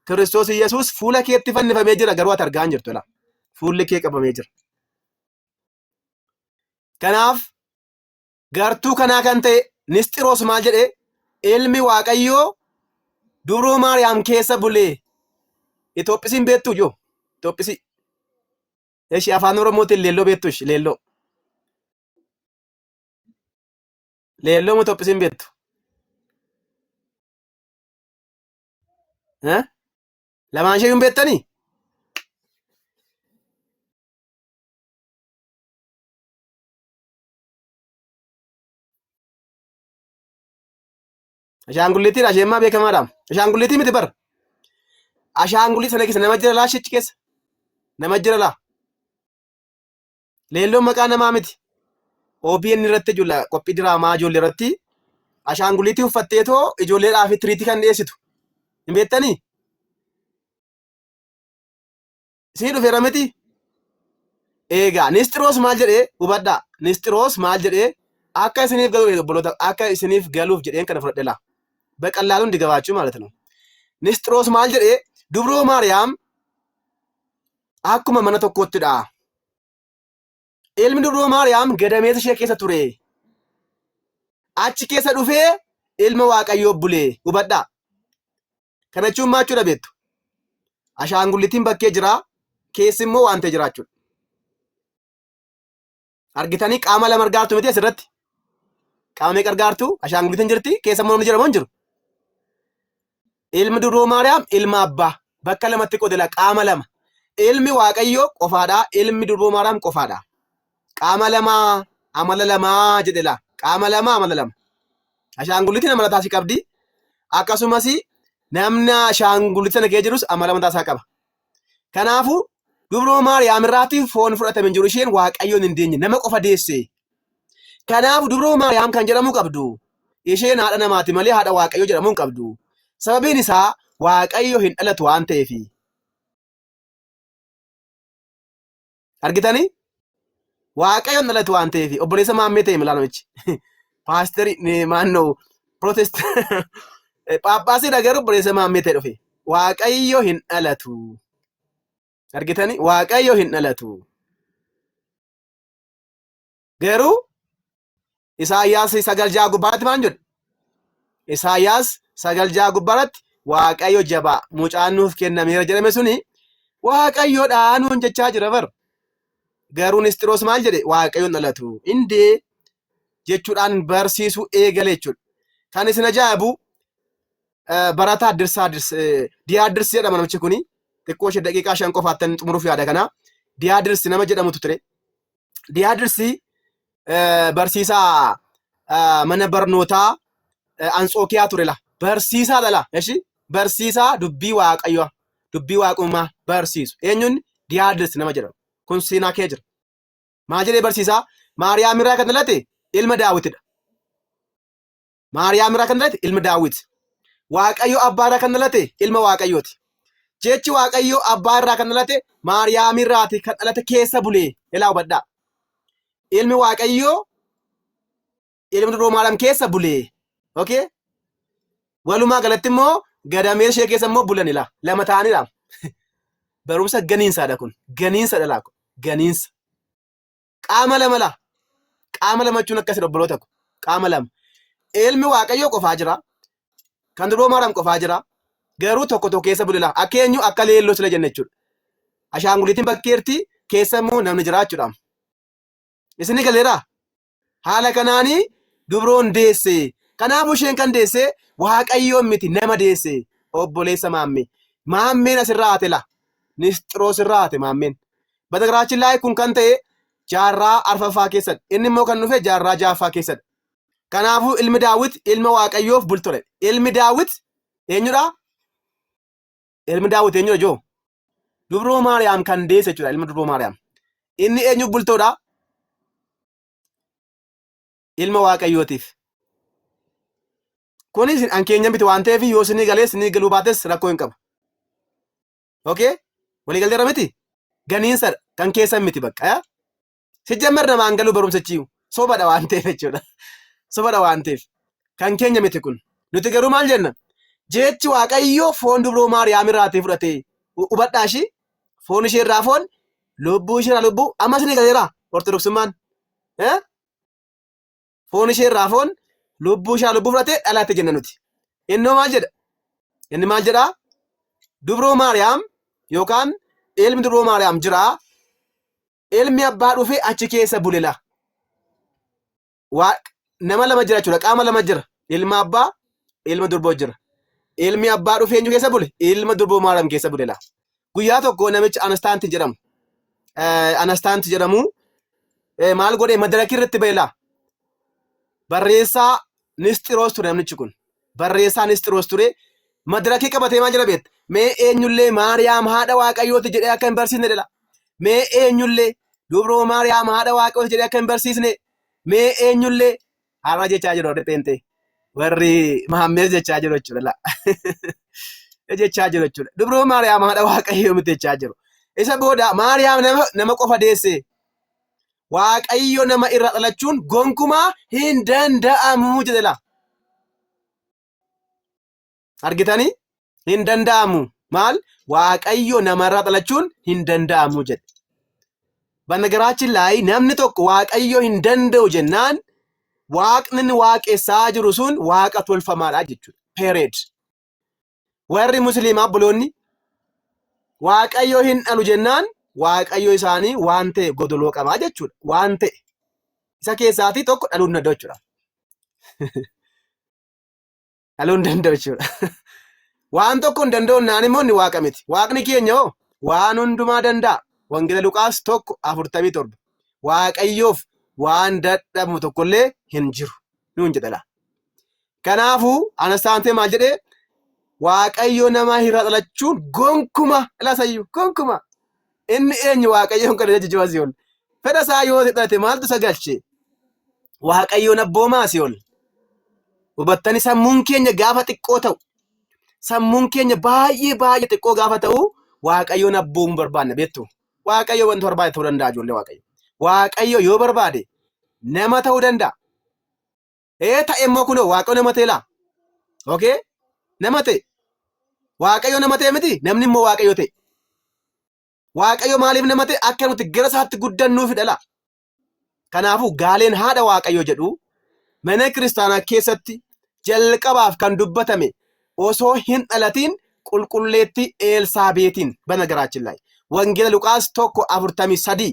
Kiristoos Yesuus fuula keetti fannifamee jira garuu ati argaa hin jirtu laa. Fuulli kee qabamee jira. Kanaaf gartuu kanaa kan ta'e Nisxiroos maal jedhe? Ilmi Waaqayyoo dubroo Maariyaam keessa bulee. Itoophisiin beektuu joo? Itoophisii. Eshi afaan Oromootiin leelloo beektuu ishi leelloo. Leelloo moo tophisiin beektu? Eh? Lamaan ishee hin beektanii? Ashaangulliitiin asheemmaa beekamaadhaam. Ashaangulliitii miti bar. Ashaangullii sana keessa nama jira laa shichi keessa. Nama jira laa. Leelloon maqaa namaa miti. OBN irratti jula qophii diraamaa ijoollee irratti ashaanguliitii uffattee too ijoolleedhaa fi tiriitii kan dhiyeessitu. Hin beektanii? Sii dhufeera miti? Eegaa Nisxiroos maal jedhee hubadhaa. Nisxiroos maal jedhee akka isiniif galuuf obboloota akka isiniif galuuf jedheen kana fudhadhe laa. Baqallaa hundi gabaachuu ማለት ነው. Nisxiroos maal jedhee dubroo Maariyaam akkuma mana tokkootti dha. Ilmi dubroo Maariyaam gadameessa ishee keessa ture. Achi keessa dhufee ilma Waaqayyoo bulee hubadhaa. Kana jechuun maal jechuudha beektu? Ashaangullitiin bakkee jira, keessi immoo waan ta'e jira jechuudha. Argitanii qaama lama argaartu miti asirratti. Qaama meeqa argaartu? Ashaangulitiin jirti. Keessa immoo namni jira moo hin jiru? Ilmi duroo Maariyaam ilma abbaa. Bakka lamatti qodela qaama lama. Ilmi Waaqayyoo qofaadha. Ilmi duroo Maariyaam qofaadha. Qaama lama amala lama jedhela. Qaama lama amala lama. Ashaangulitiin amala taasii qabdi. Akkasumas namni ashaangulita sana kee jirus amala mataa isaa qaba. Kanaafuu dubroo Maariyaam irraatti foon fudhatame hin jiru isheen Waaqayyoon hin deenye nama qofa deesse. Kanaafuu dubroo Maariyaam kan jedhamuu qabdu isheen haadha namaati malee haadha Waaqayyoo jedhamuu hin qabdu. Sababiin isaa Waaqayyo hin dhalatu waan ta'eefi. Argitanii? Waaqayyoon dhalate waan ta'eef obboleessa maammee ta'e milaa namichi. Paasterii eh, maannoo protest eh, phaaphaasiidha garuu obboleessa maammee ta'e dhufe. Waaqayyo hin dhalatu. Argitanii? Waaqayyo hin dhalatu. Garuu Isaayyaas 9 6 gubbaarratti maal jedhu? Isaayyaas 9 6 gubbaarratti Waaqayyo jabaa mucaan nuuf kennameera jedhame suni Waaqayyodhaa nuun jechaa jira bar. Garuu Nisxiroos maal jedhe? Waaqayyoon dhalatu. Indee jechuudhaan barsiisuu eegale jechuudha. Kan isin ajaa'ibu barataa Dirsaa Diyaa Dirsi jedhama namichi kuni. Xiqqoo ishee daqiiqaa shan qofaattan xumuruuf yaada kana. Diyaa Dirsi nama jedhamutu ture. Diyaadirsi barsiisaa mana barnootaa Antsookiyaa ture la. Barsiisaa dhala. Eshi barsiisaa dubbii waaqayyoo dubbii waaqummaa barsiisu. Eenyuun Diyaadirsi nama jedhamu. Kun seenaa kee jira. Maal jedhee barsiisaa? Maariyaam irraa kan dhalate ilma daawwitidha. Maariyaam irraa kan dhalate ilma Daawit. Waaqayyo abbaa irraa kan dhalate ilma Waaqayyooti. Jechi Waaqayyo abbaa irraa kan dhalate Maariyaam irraati kan dhalate keessa bulee ilaa hubadhaa. Ilmi Waaqayyoo ilma duroo Maariyaam keessa bulee. Okay? Walumaa galatti immoo gadamee ishee keessa immoo bulan ilaa lama ta'aniidha. Barumsa ganiinsaadha kun. Ganiinsa dhalaa kun. Ganiinsa. qaama lama laa qaama lama jechuun akkasi obboloota ko qaama lama ilmi waaqayyoo qofaa jira kan duroo maaram qofaa jira garuu tokko tokko keessa bulila akka eenyu akka leelloo sila jenna jechuudha ashaanguliitiin bakkeerti keessa immoo namni jira jechuudha isin ni galeeraa haala kanaanii dubroon deesse kanaafuu isheen kan deesse waaqayyoon miti nama deesse obboleessa maammee maammeen asirraa haate laa nisxiroos irraa haate maammeen Batagraachin laay kun kan ta'e jaarraa arfaffaa keessadha. Inni immoo kan dhufe jaarraa jaaffaa keessadha. Kanaafuu ilmi Daawit ilma Waaqayyoof bultore. Ilmi Daawit eenyudha? Ilmi Daawit eenyudha joo? Dubroo Maariyaam kan deesse jechuudha ilma Dubroo Maariyaam. Inni eenyu bultoodha? Ilma Waaqayyootiif. Kunis an keenya miti waan ta'eef yoo sinii galees sinii galuu baates rakkoo hin qabu. okay walii galteerra miti ganiinsadha kan keessan miti bakka yaa sijjammer namaan galuu barumsichi sobadha waan ta'eef jechuudha sobadha waan ta'eef kan keenya miti kun nuti garuu maal jenna jechi waaqayyoo foon dubroo maariyaam irraatii fudhatee hubadhaa ishii foon ishee irraa foon lubbuu ishee irraa lubbuu ammas ni galeera ortodoksummaan foon ishee irraa foon lubbuu ishaa lubbuu fudhatee dhalatte jenna nuti. Innoo maal jedha? Inni maal jedha? Dubroo Maariyaam yookaan ilmi dubroo Maariyaam jira. Ilmi abbaa dhufee achi keessa bulela. Waa- Nama lama jira jechuudha. Qaama lama jira. Ilma abbaa, ilma durboo jira. Ilmi abbaa dhufee eenyu keessa bule? Ilma durboo Maariyaam keessa bulela. guyyaa tokko namichi Anastaanti jedhamu Anastaanti jedhamu maal godhee madarakii irratti beelaa barreessaa Nisxiroos ture namichi kun barreessaa Nisxiroos ture madarakii qabatee maal jedha beekta mee eenyullee Maariyaam haadha Waaqayyooti jedhee akka hin barsiisne jedha mee eenyullee dubroo Maariyaam haadha Waaqayyooti jedhee akka hin barsiisne mee eenyullee Haama jechaa jiru warri pheenxee. Warri Mahammees jechaa jiru jechuudha. la. jechaa jiru jechuudha. Dubroo Maariyaam haadha Waaqayyoo miti jechaa jiru. Isa booda Maariyaam nama, nama qofa deesse. Waaqayyo nama irraa dhalachuun gonkumaa hin danda'amu jedhe la. argitanii hin danda'amu maal waaqayyo namarraa dhalachuun hin danda'amu jedhe banagaraachin laayii namni tokko waaqayyo hin danda'u jennaan waaqni inni waaqessaa jiru sun waaqa tolfamaadha jechuudha peereed warri musliimaa buloonni waaqayyo hin dhalu jennaan waaqayyo isaanii waan ta'e godoloo qabaa jechuudha waan ta'e isa keessaatii tokko dhaluu hin danda'u jechuudha. dhaluu hin danda'u jechuudha. Waan tokko hin danda'u naan immoo inni waaqa miti. Waaqni keenya hoo waan hundumaa danda'a. Wangeela Luqaas tokko afurtamii torba. Waaqayyoof waan dadhabamu tokkollee hin jiru. Nuun jedha laa. Kanaafuu Anastaantee maal jedhee Waaqayyo nama irraa dhalachuun gonkuma ilaasayyu gonkuma Inni eenyu Waaqayyoon kana jechu jibaa si'ol. Fedha isaa yoo hidhate maaltu isa galche? Waaqayyoon abboomaa si'ol. Hubattani sammuun keenya gaafa xiqqoo ta'u, sammuun keenya baay'ee baay'ee xiqqoo gaafa ta'u, Waaqayyoon abboomuu barbaanna beektu. Waaqayyo wanta barbaade ta'uu danda'a ijoollee Waaqayyo. Waaqayyo yoo barbaade nama ta'uu danda'a. Ee ta'e immoo kunoo waaqayyo nama ta'e laa. Okay? Nama ta'e. Waaqayyo nama ta'e miti namni immoo waaqayyo ta'e. Waaqayyo maaliif nama ta'e akka nuti gara isaatti guddannuufidha laa. Kanaafuu gaaleen haadha waaqayyo jedhu mana kiristaanaa keessatti jalqabaaf kan dubbatame osoo hin dhalatiin qulqulleettii Eelsaabeetiin bana garaachillaayi. Wangeela Luqaas 1:43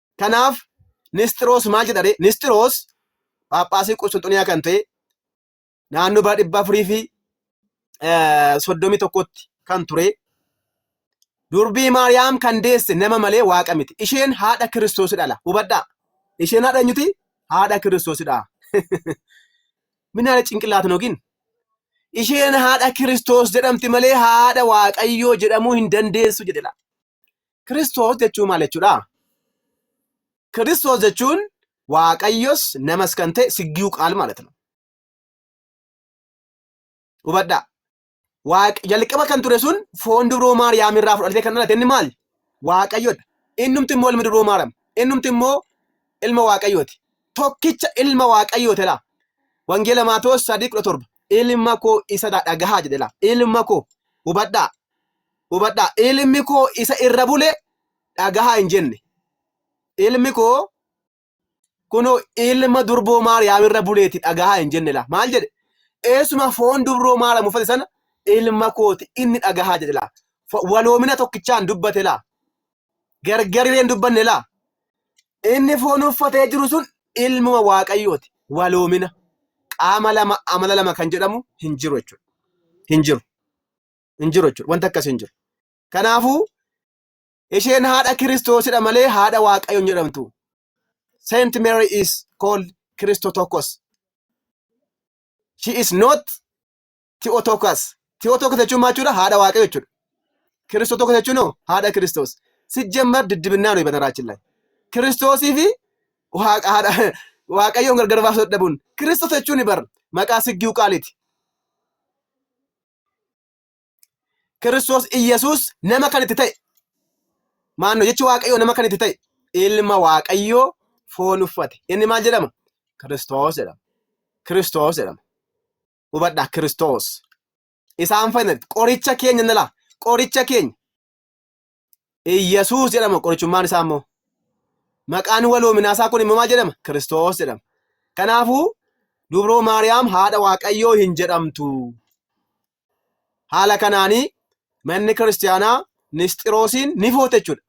Kanaaf Nisxiroos maal jedha ree? Nisxiroos Phaaphaasii Qusxunxuniyaa kan ta'e naannoo bara dhibba afurii fi soddomii tokkotti kan ture durbii Maariyaam kan deesse nama malee waaqa miti. Isheen haadha Kiristoos dhala. Hubadhaa. Isheen haadha eenyuti? Haadha Kiristoos dha. Minaala cinqillaatan yookiin isheen haadha Kiristoos jedhamti malee haadha Waaqayyoo jedhamuu hin dandeessu jedhedha. Kiristoos jechuun maal jechuudha? Kiristoos jechuun Waaqayyos namas kan ta'e siggiu qaal ማለት ነው. Hubadhaa. Waaq jalqaba kan ture sun foon dubroo Maariyaam irraa fudhatee kan dhalate inni maali? Waaqayyodha. Innumti immoo ilmi dubroo Maariyaam. Innumti immoo ilma Waaqayyooti. Tokkicha ilma Waaqayyooti laa. Wangeela Maatewos sadii kudha torba. Ilma koo isa dhagahaa jedhe laa. Ilma koo hubadhaa. Hubadhaa, ilmi koo isa irra bule dhagahaa hin jenne. Ilmi koo kunoo ilma durboo Maariyaam irra buleeti dhagahaa hin jenne laa. Maal jedhe? Eessuma foon dubroo Maariyaam uffate sana ilma kooti inni dhagahaa jedhe laa. Fo- Waloomina tokkichaan dubbate laa. Gargarilee hin dubbanne laa. Inni foon uffatee jiru sun ilmuma Waaqayyooti. Waloomina. Qaama lama amala lama kan jedhamu hin jiru jechuudha. Hin jiru. hin jiru jechuudha. Wanti akkasii hin jiru. Kanaafuu isheen haadha Kiristoosidha malee haadha Waaqayyoon jedhamtu. Saint Mary is called Christotokos. She is not Theotokos. Theotokos jechuun maal jechuudha? Haadha Waaqayyo jechuudha. Kiristotokos jechuun hoo haadha Kiristoos. Sijjemmar diddibinnaa nuyi bataraachi laay. Kiristoosii fi Waaqa- haadha- Waaqayyoon gargar baasuu dadhabuun. Kiristoos jechuun bar maqaa siggiu qaaliiti. Kiristoos Iyyasuus nama kan itti ta'e. Maanno jechi Waaqayyoo nama kan itti ta'e. Ilma Waaqayyoo foon uffate. Inni maal jedhama? Kiristoos jedhama. Kiristoos jedhama. Hubadhaa Kiristoos. Isaan fayyadamte. Qoricha keenya nalaa. Qoricha keenya. Iyyasuus jedhama qorichummaan isaa immoo. Maqaan waloominaa isaa kun immoo maal jedhama? Kiristoos jedhama. Kanaafuu dubroo Maariyaam haadha Waaqayyoo hin jedhamtu. Haala kanaanii manni kiristaanaa Nisxiroosiin ni foote jechuudha.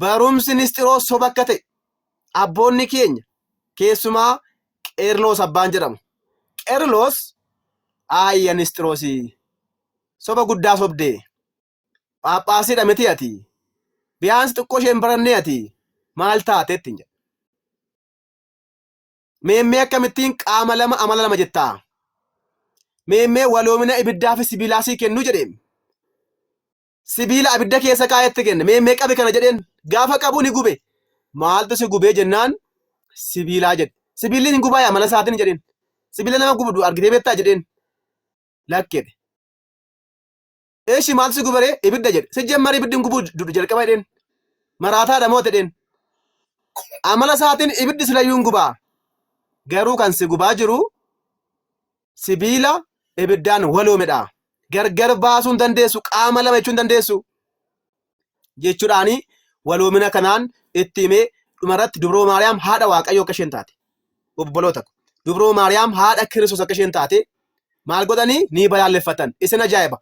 Barumsi Nisxiroos soba akka ta'e abboonni keenya keessumaa Qeerloos abbaan jedhamu. Qeerloos aayya Nisxiroosii soba guddaa sobdee. Phaaphaasiidha miti ati. Biyaansi xiqqoo isheen barannee ati maal taate ittiin jedha. Meemmee akkamittiin qaama lama amala lama jettaa? Meemmee waloomina ibiddaa fi sibiilaa sii kennu jedheen. Sibiila abidda keessa kaa'etti kenne. Meemmee qabi kana jedheen. Gaafa qabu ni gube. Maaltu si gubee jennaan sibiilaa jedhe. Sibiilli hin gubaa yaa amala isaatiin jedheen. Sibiila nama gubdu argitee beektaa jedheen. Lakkedhe. Eshi maal si gubaree ibidda jedhe. Sijjemmar ibiddin gubuu dudu jalqaba jedheen. Maraataadha moo jedheen. Amala isaatiin ibiddi silayyuu hin gubaa. Garuu kan si gubaa jiru sibiila ibiddaan waloomedha. Gargar baasuu hin dandeessu. Qaama lama jechuu hin dandeessu. jechuudhaan waloomina kanaan itti himee dhumarratti dubroo maariyaam haadha waaqayyoo akka isheen taate obboloota ko dubroo maariyaam haadha kiristoos akka isheen taate maal godhanii ni balaaleffatan isin ajaa'iba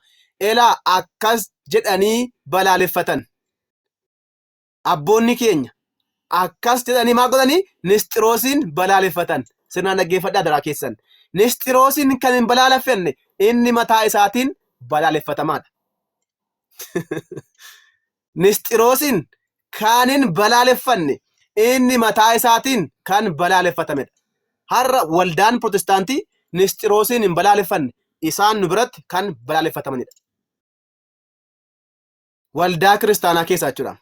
elaa akkas jedhanii balaaleffatan abboonni keenya akkas jedhanii maal godhanii nisxiroosiin balaaleffatan sirnaan dhaggeeffadhaa daraa keessan nisxiroosiin kan hin balaaleffanne inni mataa isaatiin balaaleffatamaadha Nisxiroosin kan hin balaaleffanne inni mataa isaatiin kan balaaleffatamedha. Har'a waldaan Pirootestaantii Nisxiroosiin hin balaaleffanne isaan nu biratti kan balaaleffatamanidha. Waldaa kiristaanaa keessaa jechuudha.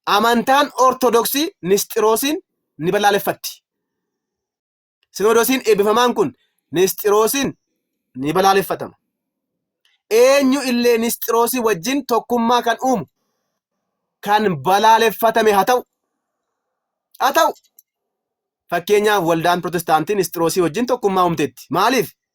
Amantaan Ortodoksii Nisxiroosiin ni balaaleffatti. Sinoodosiin eebbifamaan kun Nisxiroosiin ni balaaleffatama. Eenyu illee Nisxiroosii wajjin tokkummaa kan uumu kan balaaleffatame haa ta'u. Haa ta'u. Fakkeenyaaf waldaan Pirotestaantii Nisxiroosii wajjin tokkummaa uumteetti. Maaliif?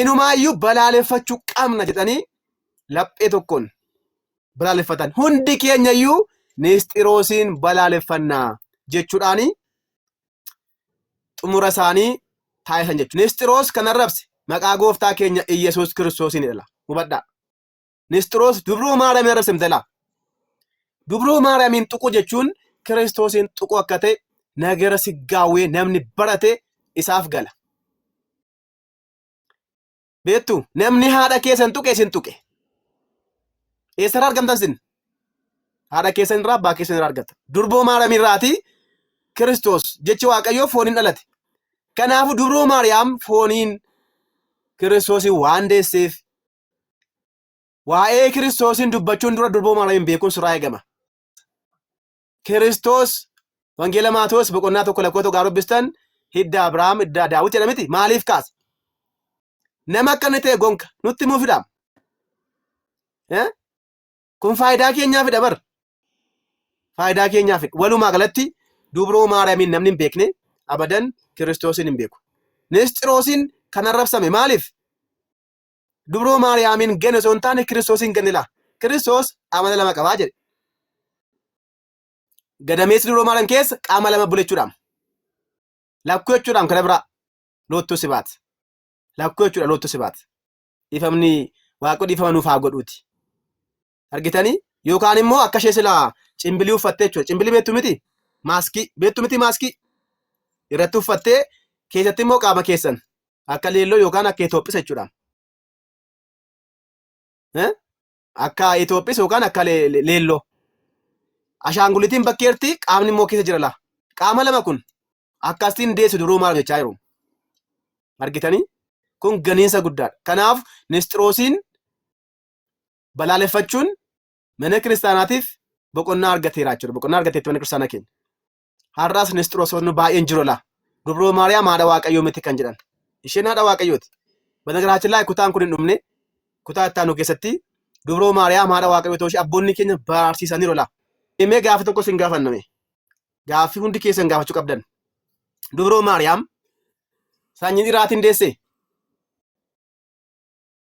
inumaayyuu balaaleffachuu qabna jedhanii laphee tokkoon balaaleffatan. Hundi keenyayyuu Nisxiroosiin balaaleffanna jechuudhaan xumura isaanii taasisan jechuudha. Nisxiroos kan arrabse maqaa gooftaa keenya Iyyasuus Kiristoosiin jedha. Hubadhaa. Nisxiroos dubruu Maariyaamiin arrabsamte laa. Dubruu Maariyaamiin tuquu jechuun Kiristoosiin tuquu akka ta'e nagara siggaawwee namni barate isaaf gala. beektu namni haadha keessan tuqe isin tuqe eessarraa argamtan sin haadha keessan irraa abbaa keessan irraa argata durboo maariyaam irraati kiristoos jechi waaqayyoo fooniin dhalate kanaafu dubroo maariyaam fooniin kiristoosiin waan deesseef waa'ee kiristoosiin dubbachuun dura durboo maariyaamiin beekuun sirraa eegama Kiristoos Wangeela Maatewos boqonnaa tokko lakkoo tokko dubbistan hidda Abrahaam hidda Daawit jedha miti maaliif kaasa? Nama akka inni ta'e gonka nutti himuu fidaam. Kun faayidaa keenyaa fida bar. Faayidaa keenyaa fida. Walumaa galatti dubroo Maariyaamiin namni hin beekne abadan Kiristoosiin hin beeku. Nisxiroosiin kan arrabsame maaliif? Dubroo Maariyaamiin ganne osoo hin taane Kiristoosiin ganne laa. Kiristoos amala lama qabaa jedhe. Gadameessi dubroo Maariyaam keessa qaama lama bulechuudhaam. Lakkuu jechuudhaam kana biraa loottuu sibaat. Lakkuu jechuudha loottuu sibaat. Dhiifamni waaqoo dhiifama nuuf haa godhuuti. argitanii yookaan immoo akka ishee silaa cimbilii uffattee jechuudha cimbilii beektu miti maaskii beektu miti maaskii irratti uffattee keessatti immoo qaama keessan akka leelloo yookaan akka Itoophisa jechuudha. Eh? Akka Itoophisa yookaan akka le- le- leelloo. Ashaangulitiin bakkeerti qaamni immoo keessa jira laa. Qaama lama kun akkasiin deessu duruu maal jechaa jiru. Argitanii? Kun ganiinsa guddaadha. Kanaaf nisxiroosiin balaaleffachuun mana kiristaanaatiif boqonnaa argateera jechuudha. Boqonnaa argateetti mana kiristaanaa keenya. Har'aas Nisxiroosonni baay'een jiru laa. Dubroo Maariyaam haadha Waaqayyoo miti kan jedhan. Isheen haadha Waaqayyooti. Banagaraachin laa kutaan kun hin dhumne kutaa itti aanu keessatti Dubroo Maariyaam haadha Waaqayyoo ta'uu ishee abboonni keenya barsiisaniiru laa. Mee gaaffii tokko isin gaafanname. Gaaffii hundi keessan gaafachuu qabdan. Dubroo Maariyaam sanyii dhiraatiin deessee?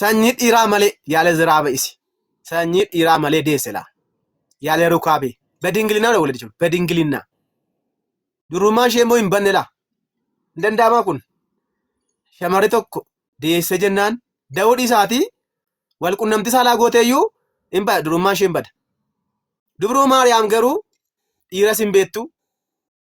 sanyii dhiiraa malee yaale ziraa ba'isi sanyii dhiiraa malee deesse laa yaale rukaabee bedingilinaa dha walidi jiru bedingilinaa durummaa ishee immoo hin banne laa hin danda'amaa kun shamarri tokko deesse jennaan da'uu dhiisaatii wal qunnamti saalaa gooteeyyuu hin bada durummaa ishee hin bada dubruu maariyaam garuu dhiiras hin beektu